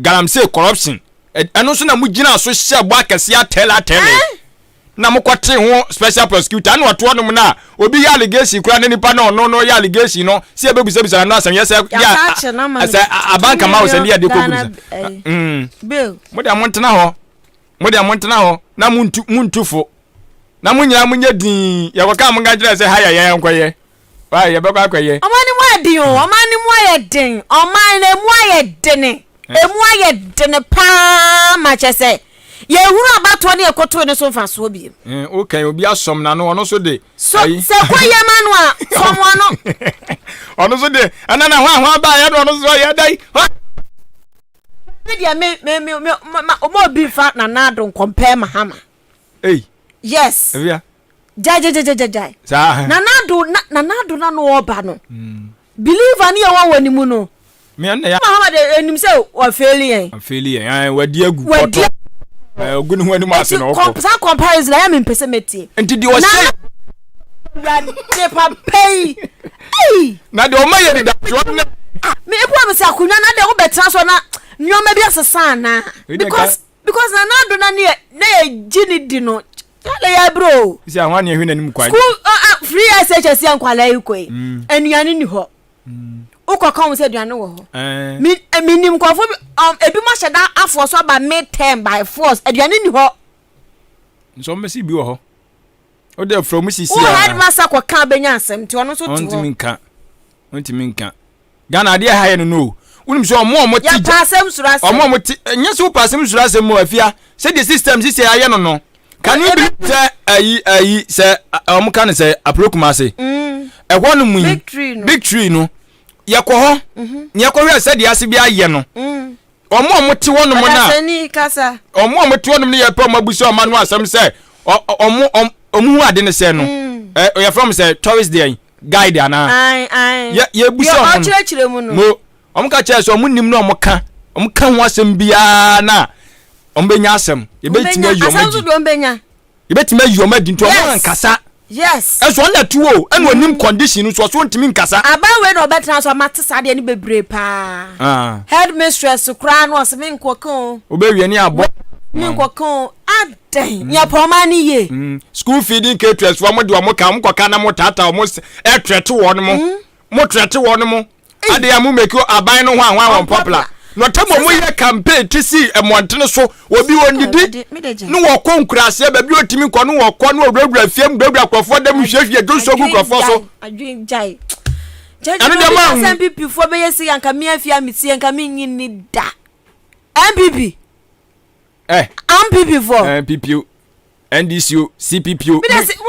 Speaker 1: galamsey corruption ɛno nso na mo gyina so hyɛ bɔ akɛseɛ atɛle atɛle eh? na mo kɔte ho special prosecutor ɛna ɔtoɔ nom no a obi yɛ allegation kura ne nipa na ɔno no yɛ allegation no sɛ yɛbɛbisabisa no asɛm yɛ sɛ yɛ sɛ abanka ma wo sɛ ne yɛde kɔbisa eh, mm.
Speaker 2: mo deɛ montena
Speaker 1: hɔ mo deɛ montena hɔ na montu fo na mo nyinaa monyɛ din yɛkɔka mo nka kyerɛ sɛ ha yɛ yɛn nkɔyɛ Why yɛbɛkɔ akɔyɛ. Ɔman no mu ayɛ den o,
Speaker 2: ɔman no mu ayɛ den, ɔman no mu ayɛ dene, eh. emu ayɛ dene paa ma kyɛ sɛ yɛhunu abatoɔ ne ɛkotoe no so mfasoɔ biem. Eh, wokɛn obi asɔm
Speaker 1: na no ɔno so de. So sɛ kɔ
Speaker 2: yɛ ma no a fɔm ɔno. Ɔno
Speaker 1: so de ɛna na ho a ho aba yɛ no ɔno so yɛ dai. Me deɛ
Speaker 2: me me me me ma ɔmo obi nfa nana ado nkɔmpɛɛ mahama. Ei. Yes. Ewia.
Speaker 1: Gyae gyae gyae gyae
Speaker 2: gyae. Saa. Nana
Speaker 1: ado na
Speaker 2: nana ado na no ɔba no. Mm. Believer ni ɛwɔ wɔ ne mu no. Mia na ya. Mahama
Speaker 1: de enim sɛ
Speaker 2: wɔ fail yɛn. Wɔ fail yɛn. Ɛn wadi agu kɔtɔ.
Speaker 1: Wadi. Ɛn ogu ne ho anim ase na ɔkɔ. Saa comparison ayɛ mi
Speaker 2: mpɛsɛ mɛtie. Nti deɛ ɔsɛ.
Speaker 1: Wurade
Speaker 2: papa yi. Ei.
Speaker 1: Na deɛ ɔma yɛ deda. Me
Speaker 2: ebu a me sɛ akonnwa na deɛ wobɛtena so na nneɛma bi asesa anaa. Because. Because na n'ado na ne na yɛgye ne di no kyale yɛ aburo o. Sisi ahoa ne ɛhwɛ n'anim
Speaker 1: kwan. School uh, uh, free
Speaker 2: SHS yɛ nkwalaa yi kɔ yi mm. anuane ni hɔ mm. wokɔ kan sɛ aduane wɔ hɔ eh. mi eh, mi nim nkɔfo bi um, ebi mo ahyɛ da afoɔ so aba mid term by force aduane ni hɔ. nsɔm
Speaker 1: bɛ si bi wɔ hɔ o de fura mu sisi a. wo headmaster kɔ
Speaker 2: kan bɛ nya asɛm ti ɔno nso ti hɔ. ɔntumi nka
Speaker 1: ɔntumi nka. Ghana adeɛ ɛha yɛ no no o. Wonim sɛ ɔmo ɔmo te gya. Yɛpaasɛm soro asɛm. Ɔmo
Speaker 2: ɔmo te nyɛ sɛ
Speaker 1: wopaasɛm soro asɛm mu afia sɛ deɛ system sisi a yɛayɛ no no. Can you be sɛ ayi ayi sɛ ɔmo ka no sɛ apro kumase. Ɛhɔ nom yi big tree no yɛkɔ hɔ na yɛkɔhwɛ sɛdeɛ ase bi ayɛ no. Wɔn a wɔte hɔnom no
Speaker 2: a wɔn a wɔte hɔnom no
Speaker 1: yɛpɛ wɔn abusa wɔn ano asɛm sɛ wɔn wɔn wɔn hu ade no sɛ no mm. ɛ yɛfrɛ wɔn sɛ tourist deɛ guide anaa yɛ yɛbusa wɔn no
Speaker 2: mo wɔn ka kyerɛ sɛ
Speaker 1: wɔn nim na wɔn ka wɔn ka ho asɛm biara na wɔn bɛnya asɛm yɛbɛtumi ayi wɔn agyi yɛbɛtumi ayi wɔn adi nti wɔn ankasa yes ɛso ɔna
Speaker 2: ɛte o
Speaker 1: ɛna onim mm. condition no so ɔso ntumi nkasa. aban wei na ɔbɛtena so
Speaker 2: ama te saa deɛ ne bebree paa. Ah. head mistress koraa no ɔsɛ mi nkɔ kan o. obewie ne abɔ.
Speaker 1: mi nkɔ kan o
Speaker 2: adɛn mm. nyɛ pɔma ne yie. Mm. school feeding caterers
Speaker 1: wɔn de wɔn ka wɔn kɔ ka na wɔn tata wɔn ɛtrɛte wɔn mo mo trɛte wɔn mo. adeɛ a mo mɛkio aban no ho a ho a wɔn pɔpla na ɔtam ɔmo yɛ campaign ti si mmɔntene so obi ɔnidi ne wɔkɔ nkuraseɛ baabi ɔtumi nkɔ ne wɔkɔ ne ɔwurawura fie mu wurawura nkurɔfoɔ dɛm nhwiehwie dwo nsuo gu nkurɔfoɔ so
Speaker 2: ɛno deɛ maa hu npp foɔ bɛyɛ si yɛ nka mi afia metie nka menyi ni da npp Eh. AMPP fo. Eh, AMPP o.
Speaker 1: NDC o, CPP o.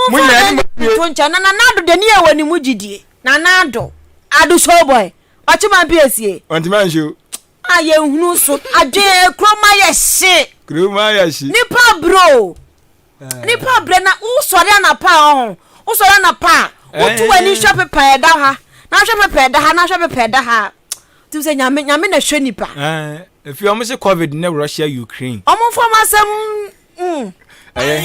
Speaker 1: Mo nyɛ ni mo
Speaker 2: pie. To nkyɛn na nana ado de ni ɛwɔ ni mu gyidie. Nana ado. Ado show boy. Ɔkye ma mpi esie. Ɔntumi anhyɛ o.
Speaker 1: A yɛ nhunu
Speaker 2: so. Adwene kuro ma yɛ hye. Kuro ma yɛ hye. Nipa bro. Nipa brɛ na wosɔre anapa a ɔho wosɔre anapa a wotu w'ani hwɛ pepa ɛda ha na hwɛ pepa ɛda ha na hwɛ pepa ɛda ha tum sɛ nyame nyame na hwɛ nipa. efi wɔn
Speaker 1: sɛ covid ne russia ukraine. wɔn nfa wɔn asɛm.
Speaker 2: ɛyɛ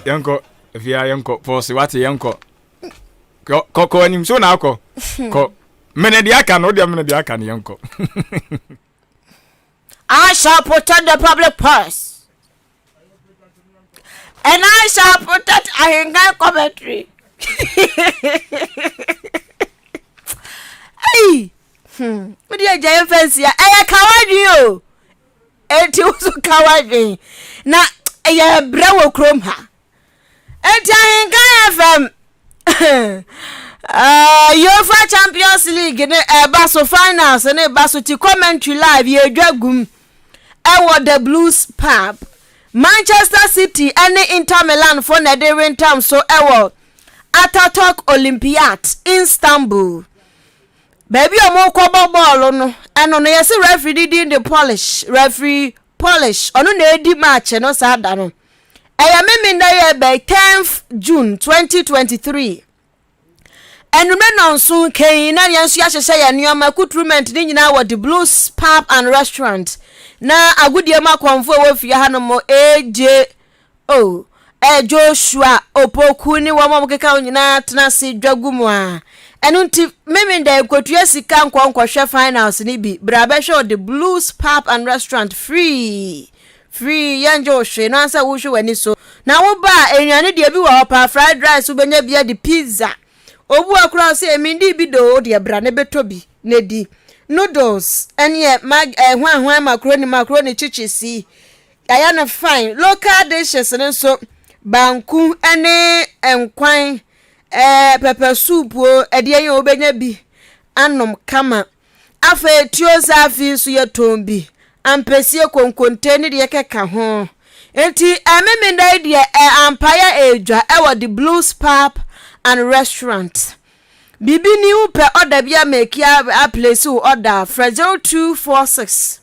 Speaker 1: yɛnkɔ efi ha yɛnkɔ pɔsi wate yɛnkɔ kɔ kɔ anim so na akɔ kɔ mene deɛ aka no wodeɛ mene deɛ aka no yɛnkɔ.
Speaker 2: I shall protect the public purse. And I shall protect Ahingan commentary. hey! Hmm. What do you giant fancy? I am kawadin o. Eti wo so kawadin. Na ɛyɛ brɛ wɔ kurom ha. Enti Ahenkan FM uh, Yofa Champions League ne ɛba so finals ne ɛba so ti commentary live yɛdwa gum ɛwɔ The Blues Pub. Manchester City ne Inter Milan fo na ɛde rentam so ɛwɔ Ataturk Olympiad Istanbul. Baabi a wɔkɔbɔ bɔɔlo no ɛno no yɛsi referee di din de Polish referee Polish, ɔno na edi March no saa da no. Ɛyɛ Memenda yɛ bɛyɛ 10th June 2023. Anwummerɛ nnɔnso kɛn na yɛn nso yɛahyehyɛ yɛn nneɛma kuturumɛnt ne nyinaa wɔ The Blues Pub and Restaurant na agodie mu akɔmfo a ɛwɔ fie hanom regye Oh, ɛɛ Joshua, Opoku ne wɔn a wɔkeka ho nyinaa tena ase dwa gu mu a. Ɛno nti, meme dɛ nkotua sika nkɔ nkɔhwɛ finals no bi. Bra bɛhwɛ ɔde Blues Pub and Restaurant free. Free, yɛngye wo hwee, no ara sɛ wohwɛ w'ani so. Na woba a, nnuane deɛ bi wɔ hɔ paa, fried rice wobɛnya bi adi, pizza. Obu a koraa ɔse, ɛmi ndi bi doo, wodeɛ bra ne bɛtɔ bi ne di. Noodles, ɛneɛ mag, ɛɛ hwan hwan macaroni, macaroni chichisi. Yɛayɛ no fine. Local dishes no nso banku ne nkwan ɛɛ eh, pɛpɛ soup o, ɛdeɛ yi wobɛnya bi anom kama. Afei tuo zaafi nso yɛtɔn bi, ampesie, konkonte ne deɛ kɛka ho. Nti ɛmemenda yi deɛ ɛ ampaeɛ ɛredwa ɛwɔ the Blues Pub and Restaurant. Biribi ni wopɛ ɔda bi a mɛki a, a place wo ɔda a frɛ 0246.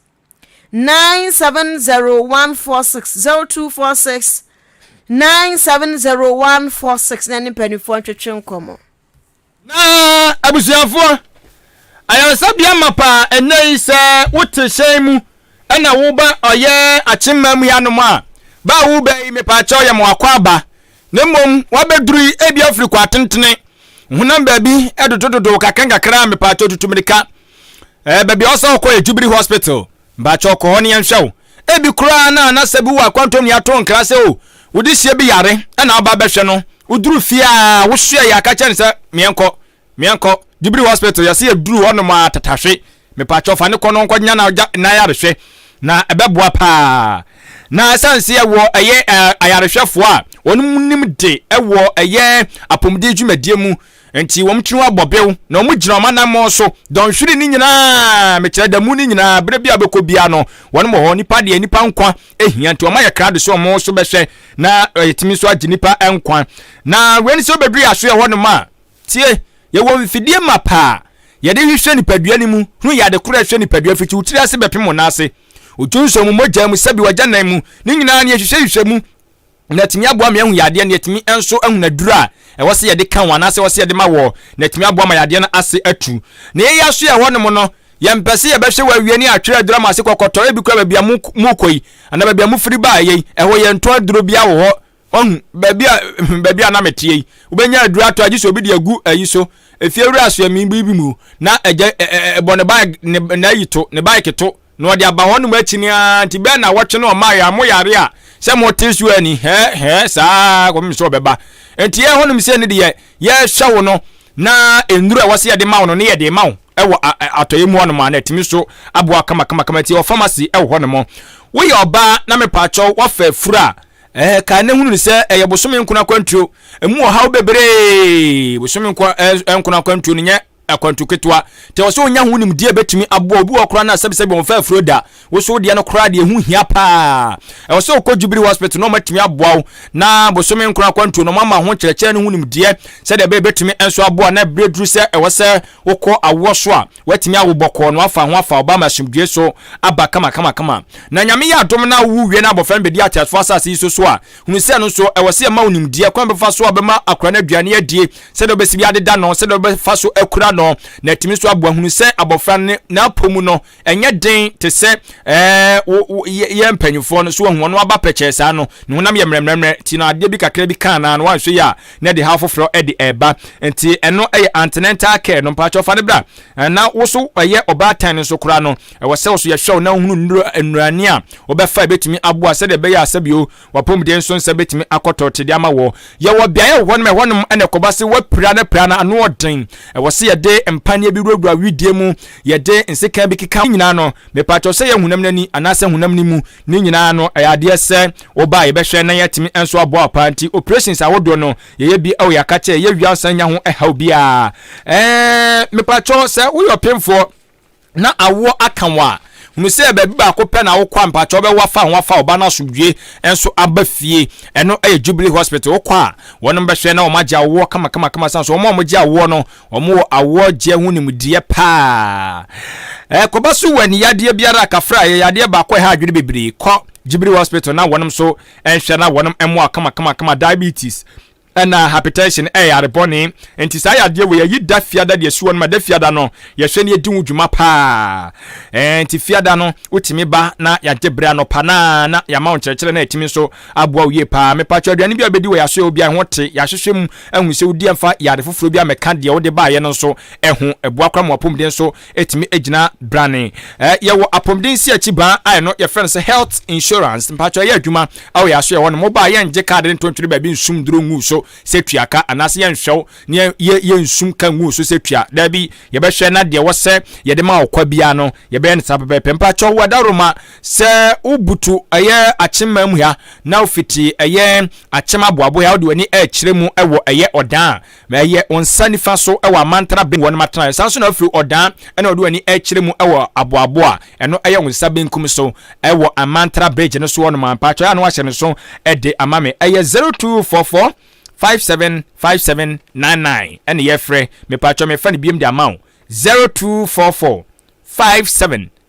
Speaker 2: nine seven zero one four six zero two four six nine seven zero one four six na ne mpanimfoɔ ntwetwe nkɔmɔ. na
Speaker 1: abusuafoɔ ayaresabea ma paa ɛnɛ yi sɛ wote hyɛn mu ɛna woba ɔyɛ akyemma mu yɛanom a baa wo bɛn yi mepaakyɛw yɛ mo akɔ aba Na mmom wabɛduru yi ebi afiri kɔ atentene honam baabi dodododo kakra nkakra a mepaakyɛw tutu mmirika ɛɛ baabi a ɔsɛ ɔkɔ yɛ Jubilee Hospital mpaakyɛw kɔ hɔ ne yɛnhwɛ wo ebi koraa na anasa bi wɔ akwantom ne ato nkra sɛ o wode sie bi yare ɛna aba bɛhwɛ no woduru fie a wosoɛ yɛ aka kyɛ ne sɛ meɛnkɔ Meɛnkɔ Jubilee hospital yɛse yɛduru hɔ nom aa tatahwe mepakyɛw fa no kɔ no nkɔnya na gya na ayarehwɛ na ɛbɛboa paa na ɛsan se ɛwɔ ɛyɛ ayarehwɛfoɔ a wɔn mu nim de ɛwɔ ɛyɛ apomuden dwumadie mu nti wɔn tiri ho abɔ bew na wɔn gyina wɔn anammɔn so dɔnhwere ne nyinaa mekyerɛ da mu ne nyinaa berɛ bi a wobɛkɔ bia no wɔn wɔ hɔ nipa deɛ nipa nkwa ehia nti wɔn ayɛ krado so wɔn so bɛhwɛ na yɛtumi nso agye nipa nkwa na wei ne sɛ wobɛduru yɛ aso yɛ hɔ nom a Tie! Yɛwɔ mfidie mapa a yɛde hwehwɛ nipadua no mu hu yɛ ade koro a ɛhwɛ nipadua fiti wo tiri ase bɛpem wo nan ase. Odwo nsɔw mu, mogya mu, sɛbi w'agyanan mu, ne nyinaa no yɛhwehwɛhwehwɛ mu na atumi aboa ma yɛahu yadeɛ no, yɛatumi nso ahu aduro a ɛwɔ sɛ yɛde ka ho anaasɛ ɛwɔ sɛ yɛde ma wɔ na atumi aboa ma yadeɛ no ase atu. Na yɛn yɛaso yɛ hɔnom no, yɛmpɛ sɛ yɛbɛhwɛ wɔ awia ne atwerɛ aduro ama ase kɔkɔtɔ, ebi kora baabi a mokɔ yi anaa baabi a mofiri baeɛ yi, ɛhɔ yɛntɔn aduro biara wɔ hɔ Wahu, baabi a, baabi a na meteɛ yi, wobɛnya aduro atɔ agye sɛ obi de agu ayi so, efiewura asoɛmii bi mu, na agya ɛ, ɛ, ɛ, bɔ ne bae, ne, n'ayi to, ne baeke to, na ɔde aba hɔnom akyini ara, nti bɛɛ na wɔtwe no ɔmae a, mo yare a, sɛ mote so a ni, hɛɛ, hɛɛ, saa ara kɔpem sɛ ɔbɛba. Nti yɛn hɔnom sei no deɛ, yɛhwɛ wo no, na nnuro a ɛwɔ sɛ yɛde ma wo no, ne yɛde ma wo wɔ a, ɛ, atɔeɛ mu hɔnom a, na atumi so aboa kama kama kama, nti yɛwɔ pharmacy wɔ hɔnom. Woyɛ ɔbaa na mepaakyɛw, woafa afuro a, Ɛɛ, kae na hunu no sɛ ɛyɛ bosome nkono akwantuo. Emu ɔhaw bebree. Bosome nko eh, nkono akwantuo no nyɛ akwantu ketewa. Te wɔ sɛ onya ho nimdeɛ bɛtumi aboa obi wɔ koraa no a sɛbisɛbi wɔn fɛ afuro da. Woso deɛ no koraa deɛ ɛho hia paa. Ɛwɔ sɛ wokɔ Jubilee Hospital na wɔatumi aboa wo na bosome nkono akwantuo no wɔama ho nkyerɛkyerɛ no ho nimdeɛ sɛdeɛ ɛbɛyɛ bɛtumi nso aboa na ɛberɛ duru sɛ ɛwɔ sɛ wokɔ awoɔ so a Woatumi awo bɔkɔɔ na woafa ho afa ɔbaa mu asomdwoe so aba kamakamakama. Na Nyame yɛ adom na wowo wie na abɔfra no bedi ateasefo asase yi so so a, hunu sɛ ɛno nso, ɛwɔ sɛ yɛma wo nimdeɛ, kwan a wobɛfa so a wobɛma akora no aduane adie, sɛdeɛ wobɛsi bi adeda no, sɛdeɛ wobɛfa so akura no, na atumi nso aboa. Hunu sɛ abɔfra no n'apɔ mu no, ɛnyɛ den te sɛ wo, wo, yɛn mpanyimfoɔ no. So woahu? Ɔno aba pɛkyɛɛ saa no, ne honam yɛ mmerɛmmerɛmmerɛ, nti no adeɛ bi kakra bi ka anaa no, woanhwɛ yie a, na de haw foforɔ de ɛreba nti ɛno yɛ antenatal care no mpakyɛw fa no bra na wo so ɛyɛ ɔbaatan nso koraa no ɛwɔ sɛ wo so yɛhwɛ wo na wohunu nnuro nnurani a wobɛfa ɛbɛtumi aboa sɛdeɛ ɛbɛyɛ a sɛbio wapɔmuden nso nsa bɛtumi akɔtɔ tede ama wɔ yɛwɔ beaeɛ wɔ hɔnom ɛhɔnom ɛna ɛkɔba se wapira no pira no ano ɔden ɛwɔ sɛ yɛde mpaneɛ bi wurawura widie mu yɛde nseka bi keka nyinaa no mepakyɛw sɛ yɛ honam no ani anaasɛ honam no mu Ne nyinaa no, ɛyɛ adeɛ sɛ woba a yɛbɛhwɛ na yɛatumi nso abɔ apaa. Nti operations ahodoɔ no, yɛyɛ bi wɔ yɛaka kyɛ, yɛyɛ wie a nsan nya ho haw biara. Ɛɛɛ, mepakyɛ sɛ woyɛ ɔpemfoɔ na awoɔ aka wo a, hunu sɛ baabi baako pɛ na wokɔ a mpakyɛ wobɛwo afa ho afa ɔba no asomdwie nso aba fie. Ɛno yɛ Jubilee Hospital. Wokɔ a, wɔnom bɛhwɛ na wɔn agye awoɔ kama kama kama. San so wɔn a wɔgye awoɔ no, Wɔwɔ awoɔgyeɛ ho nimdeɛ paa. Ɛkɔba so wɔ aniyadeɛ biara a kafra yɛ yadeɛ baako a ɛha adwene bebree. Kɔ Jubilee Hospital na wɔnom nso nhwɛ na wɔnom mmoa wo kamakamakama. Diabetes ɛna hypertension ɛyɛ yare bɔne. Nti saa yadeɛ wei yɛyi da fiada de asi wɔnom. Ɛda fiada no yɛhwɛ na yɛdi ho dwuma paa. Ɛɛ nti fiada no wotumi ba na yɛagye berɛ anɔpa no ara na yɛama wo nkyerɛkyerɛ na yɛtumi nso aboa wo yie paa. Mepa kyɛw, aduane bi a wobɛdi wɔ yɛ asoɛeɛ hɔ biara ɛho te, yɛahwehwɛ mu ahunu sɛ wodi ɛmfa yɛ ade foforɔ biara mmɛka deɛ wode baeɛ no nso ho. Ɛboa koraa ma w'apɔmuden nso tumi gyina brane. Ɛɛ yɛwɔ apɔmuden nsiakyi baa a ɛno yɛfrɛ no sɛ health insurance, mepa kyɛw ɛyɛ adwuma wɔ yɛ asoɛeɛ hɔ nom. Woba a yɛngye kaade no nto ntwene baabi nsum duro ngu so sɛ tua ka anaa sɛ yɛnhwɛ wo na yɛ yɛnsum ka ngu so sɛ tua, daabi, yɛbɛhwɛ na deɛ ɛwɔ sɛ yɛde ma wo kwa biara no yɛbɛyɛ no saa pɛpɛɛpɛ. Mepa kyɛw wo Adaworoma. Sɛ wobutu ɛyɛ akyem mam ha na wofiti ɛyɛ akyem aboabo ha wode w'ani rekyerɛ mu wɔ ɛyɛ ɔdan a, ɛyɛ wo nsa nifa so wɔ Amantana Benguo no m'atenaeɛ. San nso na wofiri ɔdan na wode w'ani rekyerɛ mu wɔ aboabo a ɛno ɛyɛ wo nsa benkum so wɔ Amantana Bridge no soɔ nom a, mpakyɛw ano ahyɛ no so de ama me. Ɛyɛ 0244 575799 ɛne yɛfrɛ. Mepakyɛw mefa no biom de ama wo 0244 57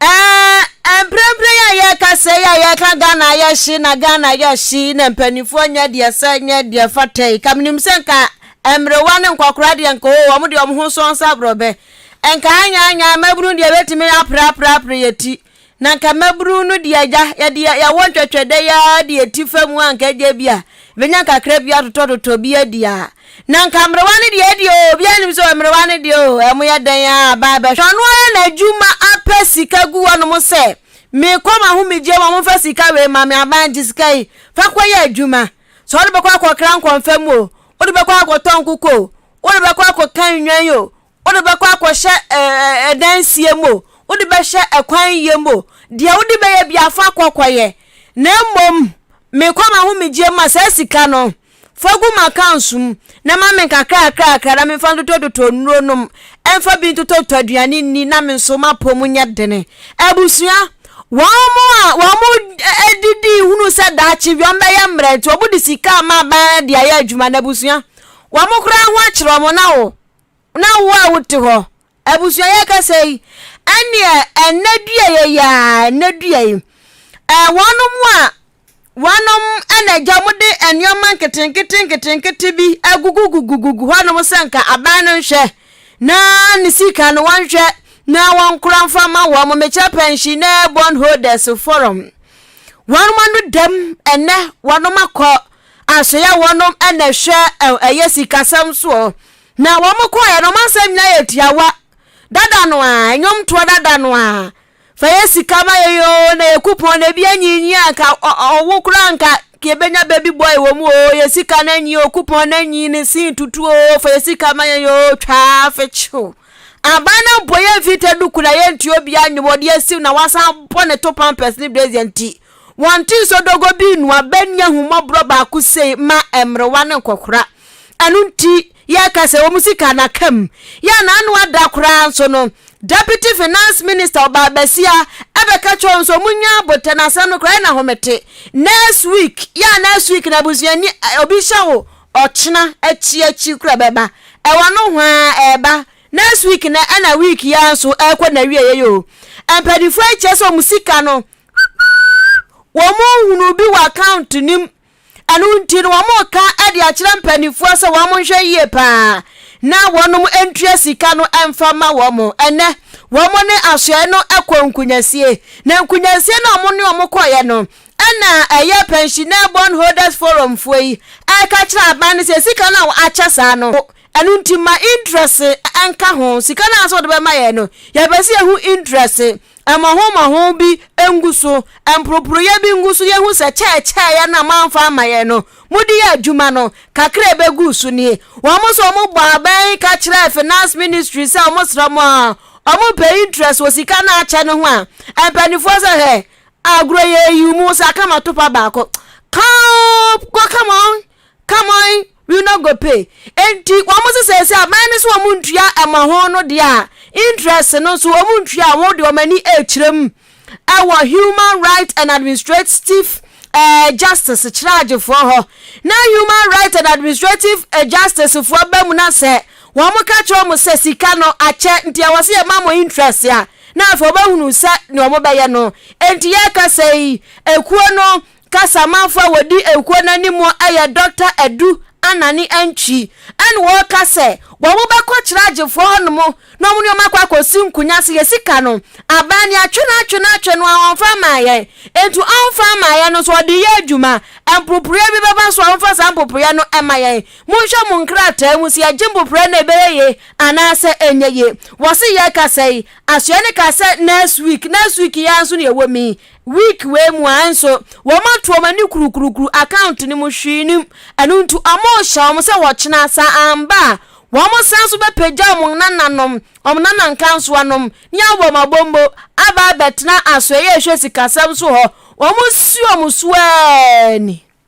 Speaker 2: ɛɛ mprempren a yɛreka sɛ yi a yɛreka ghana yɛhye na ghana yɛhye na mpanimfoɔ nyɛ deɛ sɛ nyɛ deɛ fata yi kamenim sɛ nka mmerewa ne nkɔkora deɛ nka o wɔn deɛ wɔn ho sɔn nsa borɔbɛ nka anyaanya mmabunu deɛ bɛtumi apraprapra yɛ ti na nka mmabunu no deɛ agya yɛde yɛwɔ ntwɛtwɛdɛ yɛ deɛ ti fa mu a nka agya bi a bɛnya kakra bi atotɔtotɔ bi adi a Na nka mmerewa no deɛ deɛ o, obiara nim sɛ mmerewa no deɛ o, ɛmo yɛ dɛn a, aba abɛhwɛ ɔno ara n'adwuma apɛ sika gu wɔnom sɛ, mekɔ m'ahomegyeɛ mu a, momfa sika wei ma me, aban gye sika yi, fa kɔyɛ adwuma. Sɛ wode bɛkɔ akɔkra nkɔmfam o, wode bɛkɔ akɔtɔ nkokɔ o, wode bɛkɔ akɔka nnwan o, wode bɛkɔ akɔhyɛ ɛdansie mu o wode bɛhyɛ ɛkwan yie mu o deɛ wode bɛyɛ bi afa kɔkɔyɛ na mmom mekɔ ma ho megye ma saa sika no fa gu ma accounts mu na ma me kakrakrakra na mefa ntotɔtotɔ nnuro nom ɛmfa bi ntotɔtɔ aduane nni na me nso mapɔ mu nyɛ dene abusua wɔn mu a wɔn mu didi hunu sɛ daakye bi wɔn bɛyɛ mmerɛ nti wɔn de sika a ma aban de ayɛ adwuma na abusua wɔn koraa ho akyerɛ wɔn na wɔn Na wo a wote hɔ, abusuayɛ kasa yi, ɛneɛ ɛnɛ dua yɛ yaa, ɛnɛ dua yi, ɛɛ wɔnom a wɔnom ɛna agya mo de nneɛma nketenkete nketenkete bi agugugugugugu hɔnom sɛ nka aban no nhwɛ na ne sika no wɔnhwɛ na wɔnkora mfa ma wɔn mekyɛ pɛnhyi na bond holders forum wɔnom ano dam ɛnɛ wɔnom akɔ Asoeɛ hɔ nom na ɛhwɛ ɛyɛ sikasɛm soɔ. Na wɔn kɔɔɛ no wɔn asɛm nyinaa yɛ tiawa. Dada no a, ɛnwom toɔ dada no a. Fa yɛ sika ma yɛ yoo na yɛ kupɔn na ebi anyinyi a nka ɔwo koraa nka yɛbɛnya baby boy wɔ mu oo yɛ sika no anyi oo kupɔn no anyi ne sin tutu oo fa yɛ sika ma yɛ yoo twaa fekyew. Aban no mpo yɛmfi tɛ duku na yɛntua obiara nnwom ɔde asiw na wasan bɔ ne to pampers ne brazier nti. Wɔnte nsɔ dɔgɔ bi nnu a bɛnni ahummɔborɔ baako sei mma mmerewa ne nkɔkora. Ɛno nti, yɛka sɛ wɔn sika no aka mu. Yɛ a n'ano ada koraa nso no, Deputy Finance Minister Obaa Basia bɛka kyerɛ wɔn sɛ wɔnnya aboterɛ. N'asɛm no koraa, yɛ no ahomete. Next week, yɛ a next week no abusuani obi hyɛ wo ɔkyena akyi akyi koraa bɛba. Ɛwɔ nohoa ɛreba. Next week no ɛna week yi ara nso ɛrekɔ n'awieeɛ yi o. Mpanimfoɔ yi kyerɛ sɛ wɔn sika no wɔn nhunu bi wɔ account no mu ɛno nti no wɔreka de akyerɛ mpanimfoɔ sɛ wɔn nhwɛ yie paa na wɔn ntua sika no mfa ma wɔn ɛnɛ wɔn ne asoɛe no kɔ nkunyasie na nkunyasie na wɔn ne wɔn kɔeɛ no ɛna ɛyɛ pensioner bond holders forum foɔ yi ɛka kyerɛ aban no sɛ sika no a akyɛ saa no ɛno nti ma interest nka ho sika no a sɛ wɔde bɛma yɛn no yɛbɛsi ehu interest Mmɔho mmɔho bi ngu so, mporoporoeɛ bi ngu so, yɛhu sɛ kyɛɛkyɛɛeɛ no a moamfa ama yɛn no, mode yɛ adwuma no, kakra a ɛbɛgu so nie. Wɔn nso wɔbɔɔ abɛn ka kyerɛɛ Finance Ministry sɛ wɔsrɛ mo a wɔpɛ interest wɔ sika no a akyɛ no ho a, mpanimfoɔ sɛ hwɛ, agorɔ yɛ ayi wo mu, wo sɛ aka ma topa baako. Come, go, come on. Come on, we no go pay. Enti wɔn se sɛsɛ aban no so wɔn ntua ɛma ho no deɛ a interest no nso wɔn ntua a wɔn de wɔn ani ɛrekyerɛ mu ɛwɔ Human Rights and Administrative eh, Justice kyerɛagyefoɔ hɔ na Human Rights and Administrative eh, Justice foɔ ba mu na sɛ wɔn ka kyerɛ wɔn sɛ sika no akyɛ nti ɛwɔ sɛ yɛma mo interest a na afei wɔbɛhunu sɛ ne wɔn bɛyɛ no enti yɛka sɛ yi ekuo no Ka Samanfo a wɔdi ekuo no anim yɛ Dɔkta Adu Anane Antwi ɛna ɔreka sɛ wɔn bɛkɔ kyerɛ agyefoɔ hɔ nom na wɔn ne wɔn akɔ akɔsi nkunya sɛ yɛ sika no aban no yɛatwe no atwe no atwe no a ɔmfa mmaa yɛn nti ɔmfa mmaa yɛn no so ɔde yɛ adwuma mpoporeɛ bi bɛba so a ɔmfa saa mpoporeɛ no mma yɛn monhwɛ mo nkrataa mu sɛ yɛgye mpoporeɛ no ɛbɛyɛ ye anaasɛ ɛnyɛ ye wɔse yɛkasa yi asoɛ no ka sɛ next week next week yɛa nso ne yɛwɔ mi Week wei mu ara nso, wɔatu wɔn ani kurukurukuru account no mu, hwee nnim. Ɛno nti wɔrehyɛ wɔn sɛ wɔkyena, sɛ amba a, wɔsan nso bɛpagya wɔn nananom, wɔn nana nkansowanom, ne abɔmmɔbɔmmɔ aba abɛtena asoɛeɛ a ɛhwɛ sikasɛm so hɔ. Wɔresi wɔn so ara ni.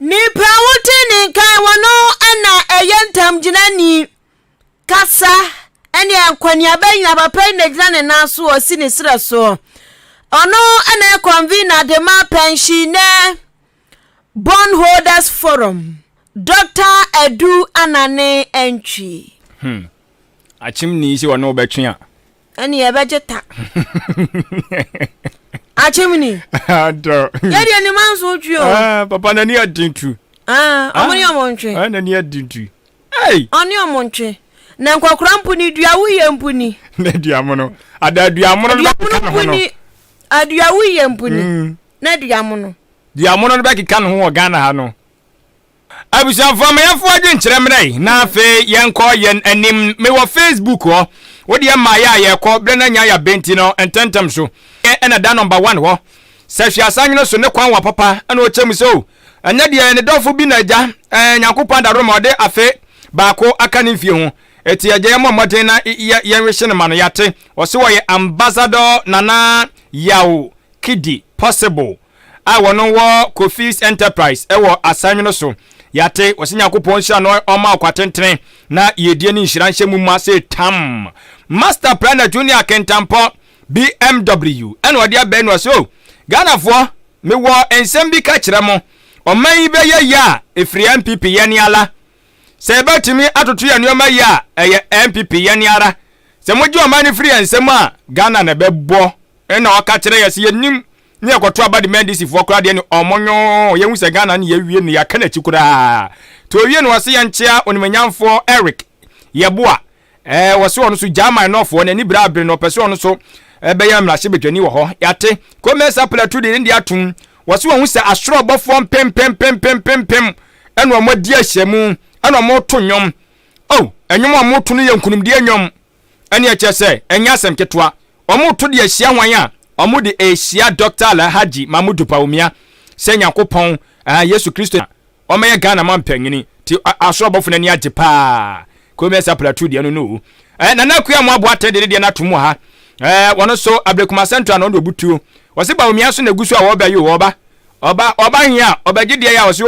Speaker 2: Nnipa a wodi ne nkan wɔ no na ɛyɛ ntamgyinani, kasa ne akɔneaba nyinaa papa yi na gyina ne nan so ɔsi ne serɛ so. Ɔno na yɛ convener de ma Pensionɛ Bond Holders Forum, Dɔkta Adu Anane Antwi. Hmm.
Speaker 1: Akyem ni sɛ ɔne wo bɛtwe a, ɛne yɛbɛgye
Speaker 2: ta akyem ni
Speaker 1: yɛdeɛ ne ma nso
Speaker 2: twe o ah, papa n'ani aden
Speaker 1: tu ah, ɔmo ne ah,
Speaker 2: ɔmo ntwe n'ani aden tu
Speaker 1: ɔne ɔmo ntwe
Speaker 2: na nkɔkora mpo ne dua woyɛ mpo ni na duamono
Speaker 1: ada duamono no bɛkeka ne ho no
Speaker 2: adua woyɛ mpo ni mm. na duamono duamono no bɛkeka
Speaker 1: ne ho wɔ ghana ha no Abusuafoɔ ma yɛmfa w'adwenkyerɛ mmrɛ yɛn na afei yɛnkɔ yɛn anim. Mewɔ Facebook hɔ. Wodeɛ mmaeɛ a yɛkɔ berɛ no anya yɛ abɛ nti no ntɛntɛm so. Ɛna da number one hɔ. Sɛ hwɛ asanwene so ne kwan wa papa ɛna ɔkyɛ mu sɛ o. Ɛnyɛ deɛ ne dɔfo bi na agya ɛɛ Nyankopɔn adaworo ma ɔde afe baako aka ne mfie ho. Ɛti agya yɛmmɔ mmɔden na yɛ yɛnwehye no ma no. Yɛate. Ɔse ɔyɛ Ambassador Nana Yaw Kidi possible. a wɔnom wɔ Kofi's Enterprise wɔ Asanwono so yɛate wɔsɛ Nyankopɔn nhyira no ɔma ɔkwa tentene na yiedie ne nhyira nhyɛ mu ma se tam Master Planner Junior Kentampɔ BMW ɛna ɔde abɛn no ɔsɛ o Ghanafoɔ mewɔ nsɛm bi ka kyerɛ mo ɔman yi bɛyɛ yɛ a ɛfiri NPP yɛ ne ala sɛ yɛbɛtumi atoto yɛ nneɛma yɛ a ɛyɛ NPP yɛ ne ara sɛ mogye ɔman no firi yɛ nsɛm a Ghana na ɛbɛbɔ ɛna ɔka kyerɛ yɛ sɛ yɛnim Ne yɛkɔto aba de ma NDC foɔ koraa deɛ ne ɔmo nyoo yɛhu sɛ Ghana ne yɛawie no yɛaka n'akyi koraa to owie no ɔse yɛnkyea onimanyamfoɔ Eric Yeboah ɛɛ ɔse ɔno so gyaa man nɔfoɔ n'ani bere abere no ɔpɛ sɛ ɔno so ɛbɛyɛ mmarahyɛ badwani wɔ hɔ yɛate Ko Mensah Platu de ne deɛ atom ɔse wahu sɛ asoro ɔbɔfoɔ mpempempempempempem ɛna ɔmo adi ahyia mu ɛna ɔmo to nnwom oh ɛnwom a ɔmo to no yɛ nkunimdie nnwom ɛneɛ kyerɛ sɛ ɛnyɛ asɛm ketewa. Wɔreto de ahyia hwan a? Wɔde rehyia Dɔkta Alhaji Mahmudu Bawumia sɛ Nyankopɔn, ɛɛ, Yesu Kristo na ɔmmɛyɛ Ghana man panyini. Nti asoro abɔfo no ani agye paa. Komiɛnsa Plateau deɛ no no o. Ɛɛ, Nana Akua Amoah Boateng de ne deɛ no ato mu ha. Ɛɛ, wɔn nso Ablekuma Central na wɔn de wɔbutuo. Wɔse Bawumia nso na ɛgu so a wɔrebɛyo o, ɔba, ɔba, ɔba he a ɔbɛgye deɛ yɛ a wɔse o.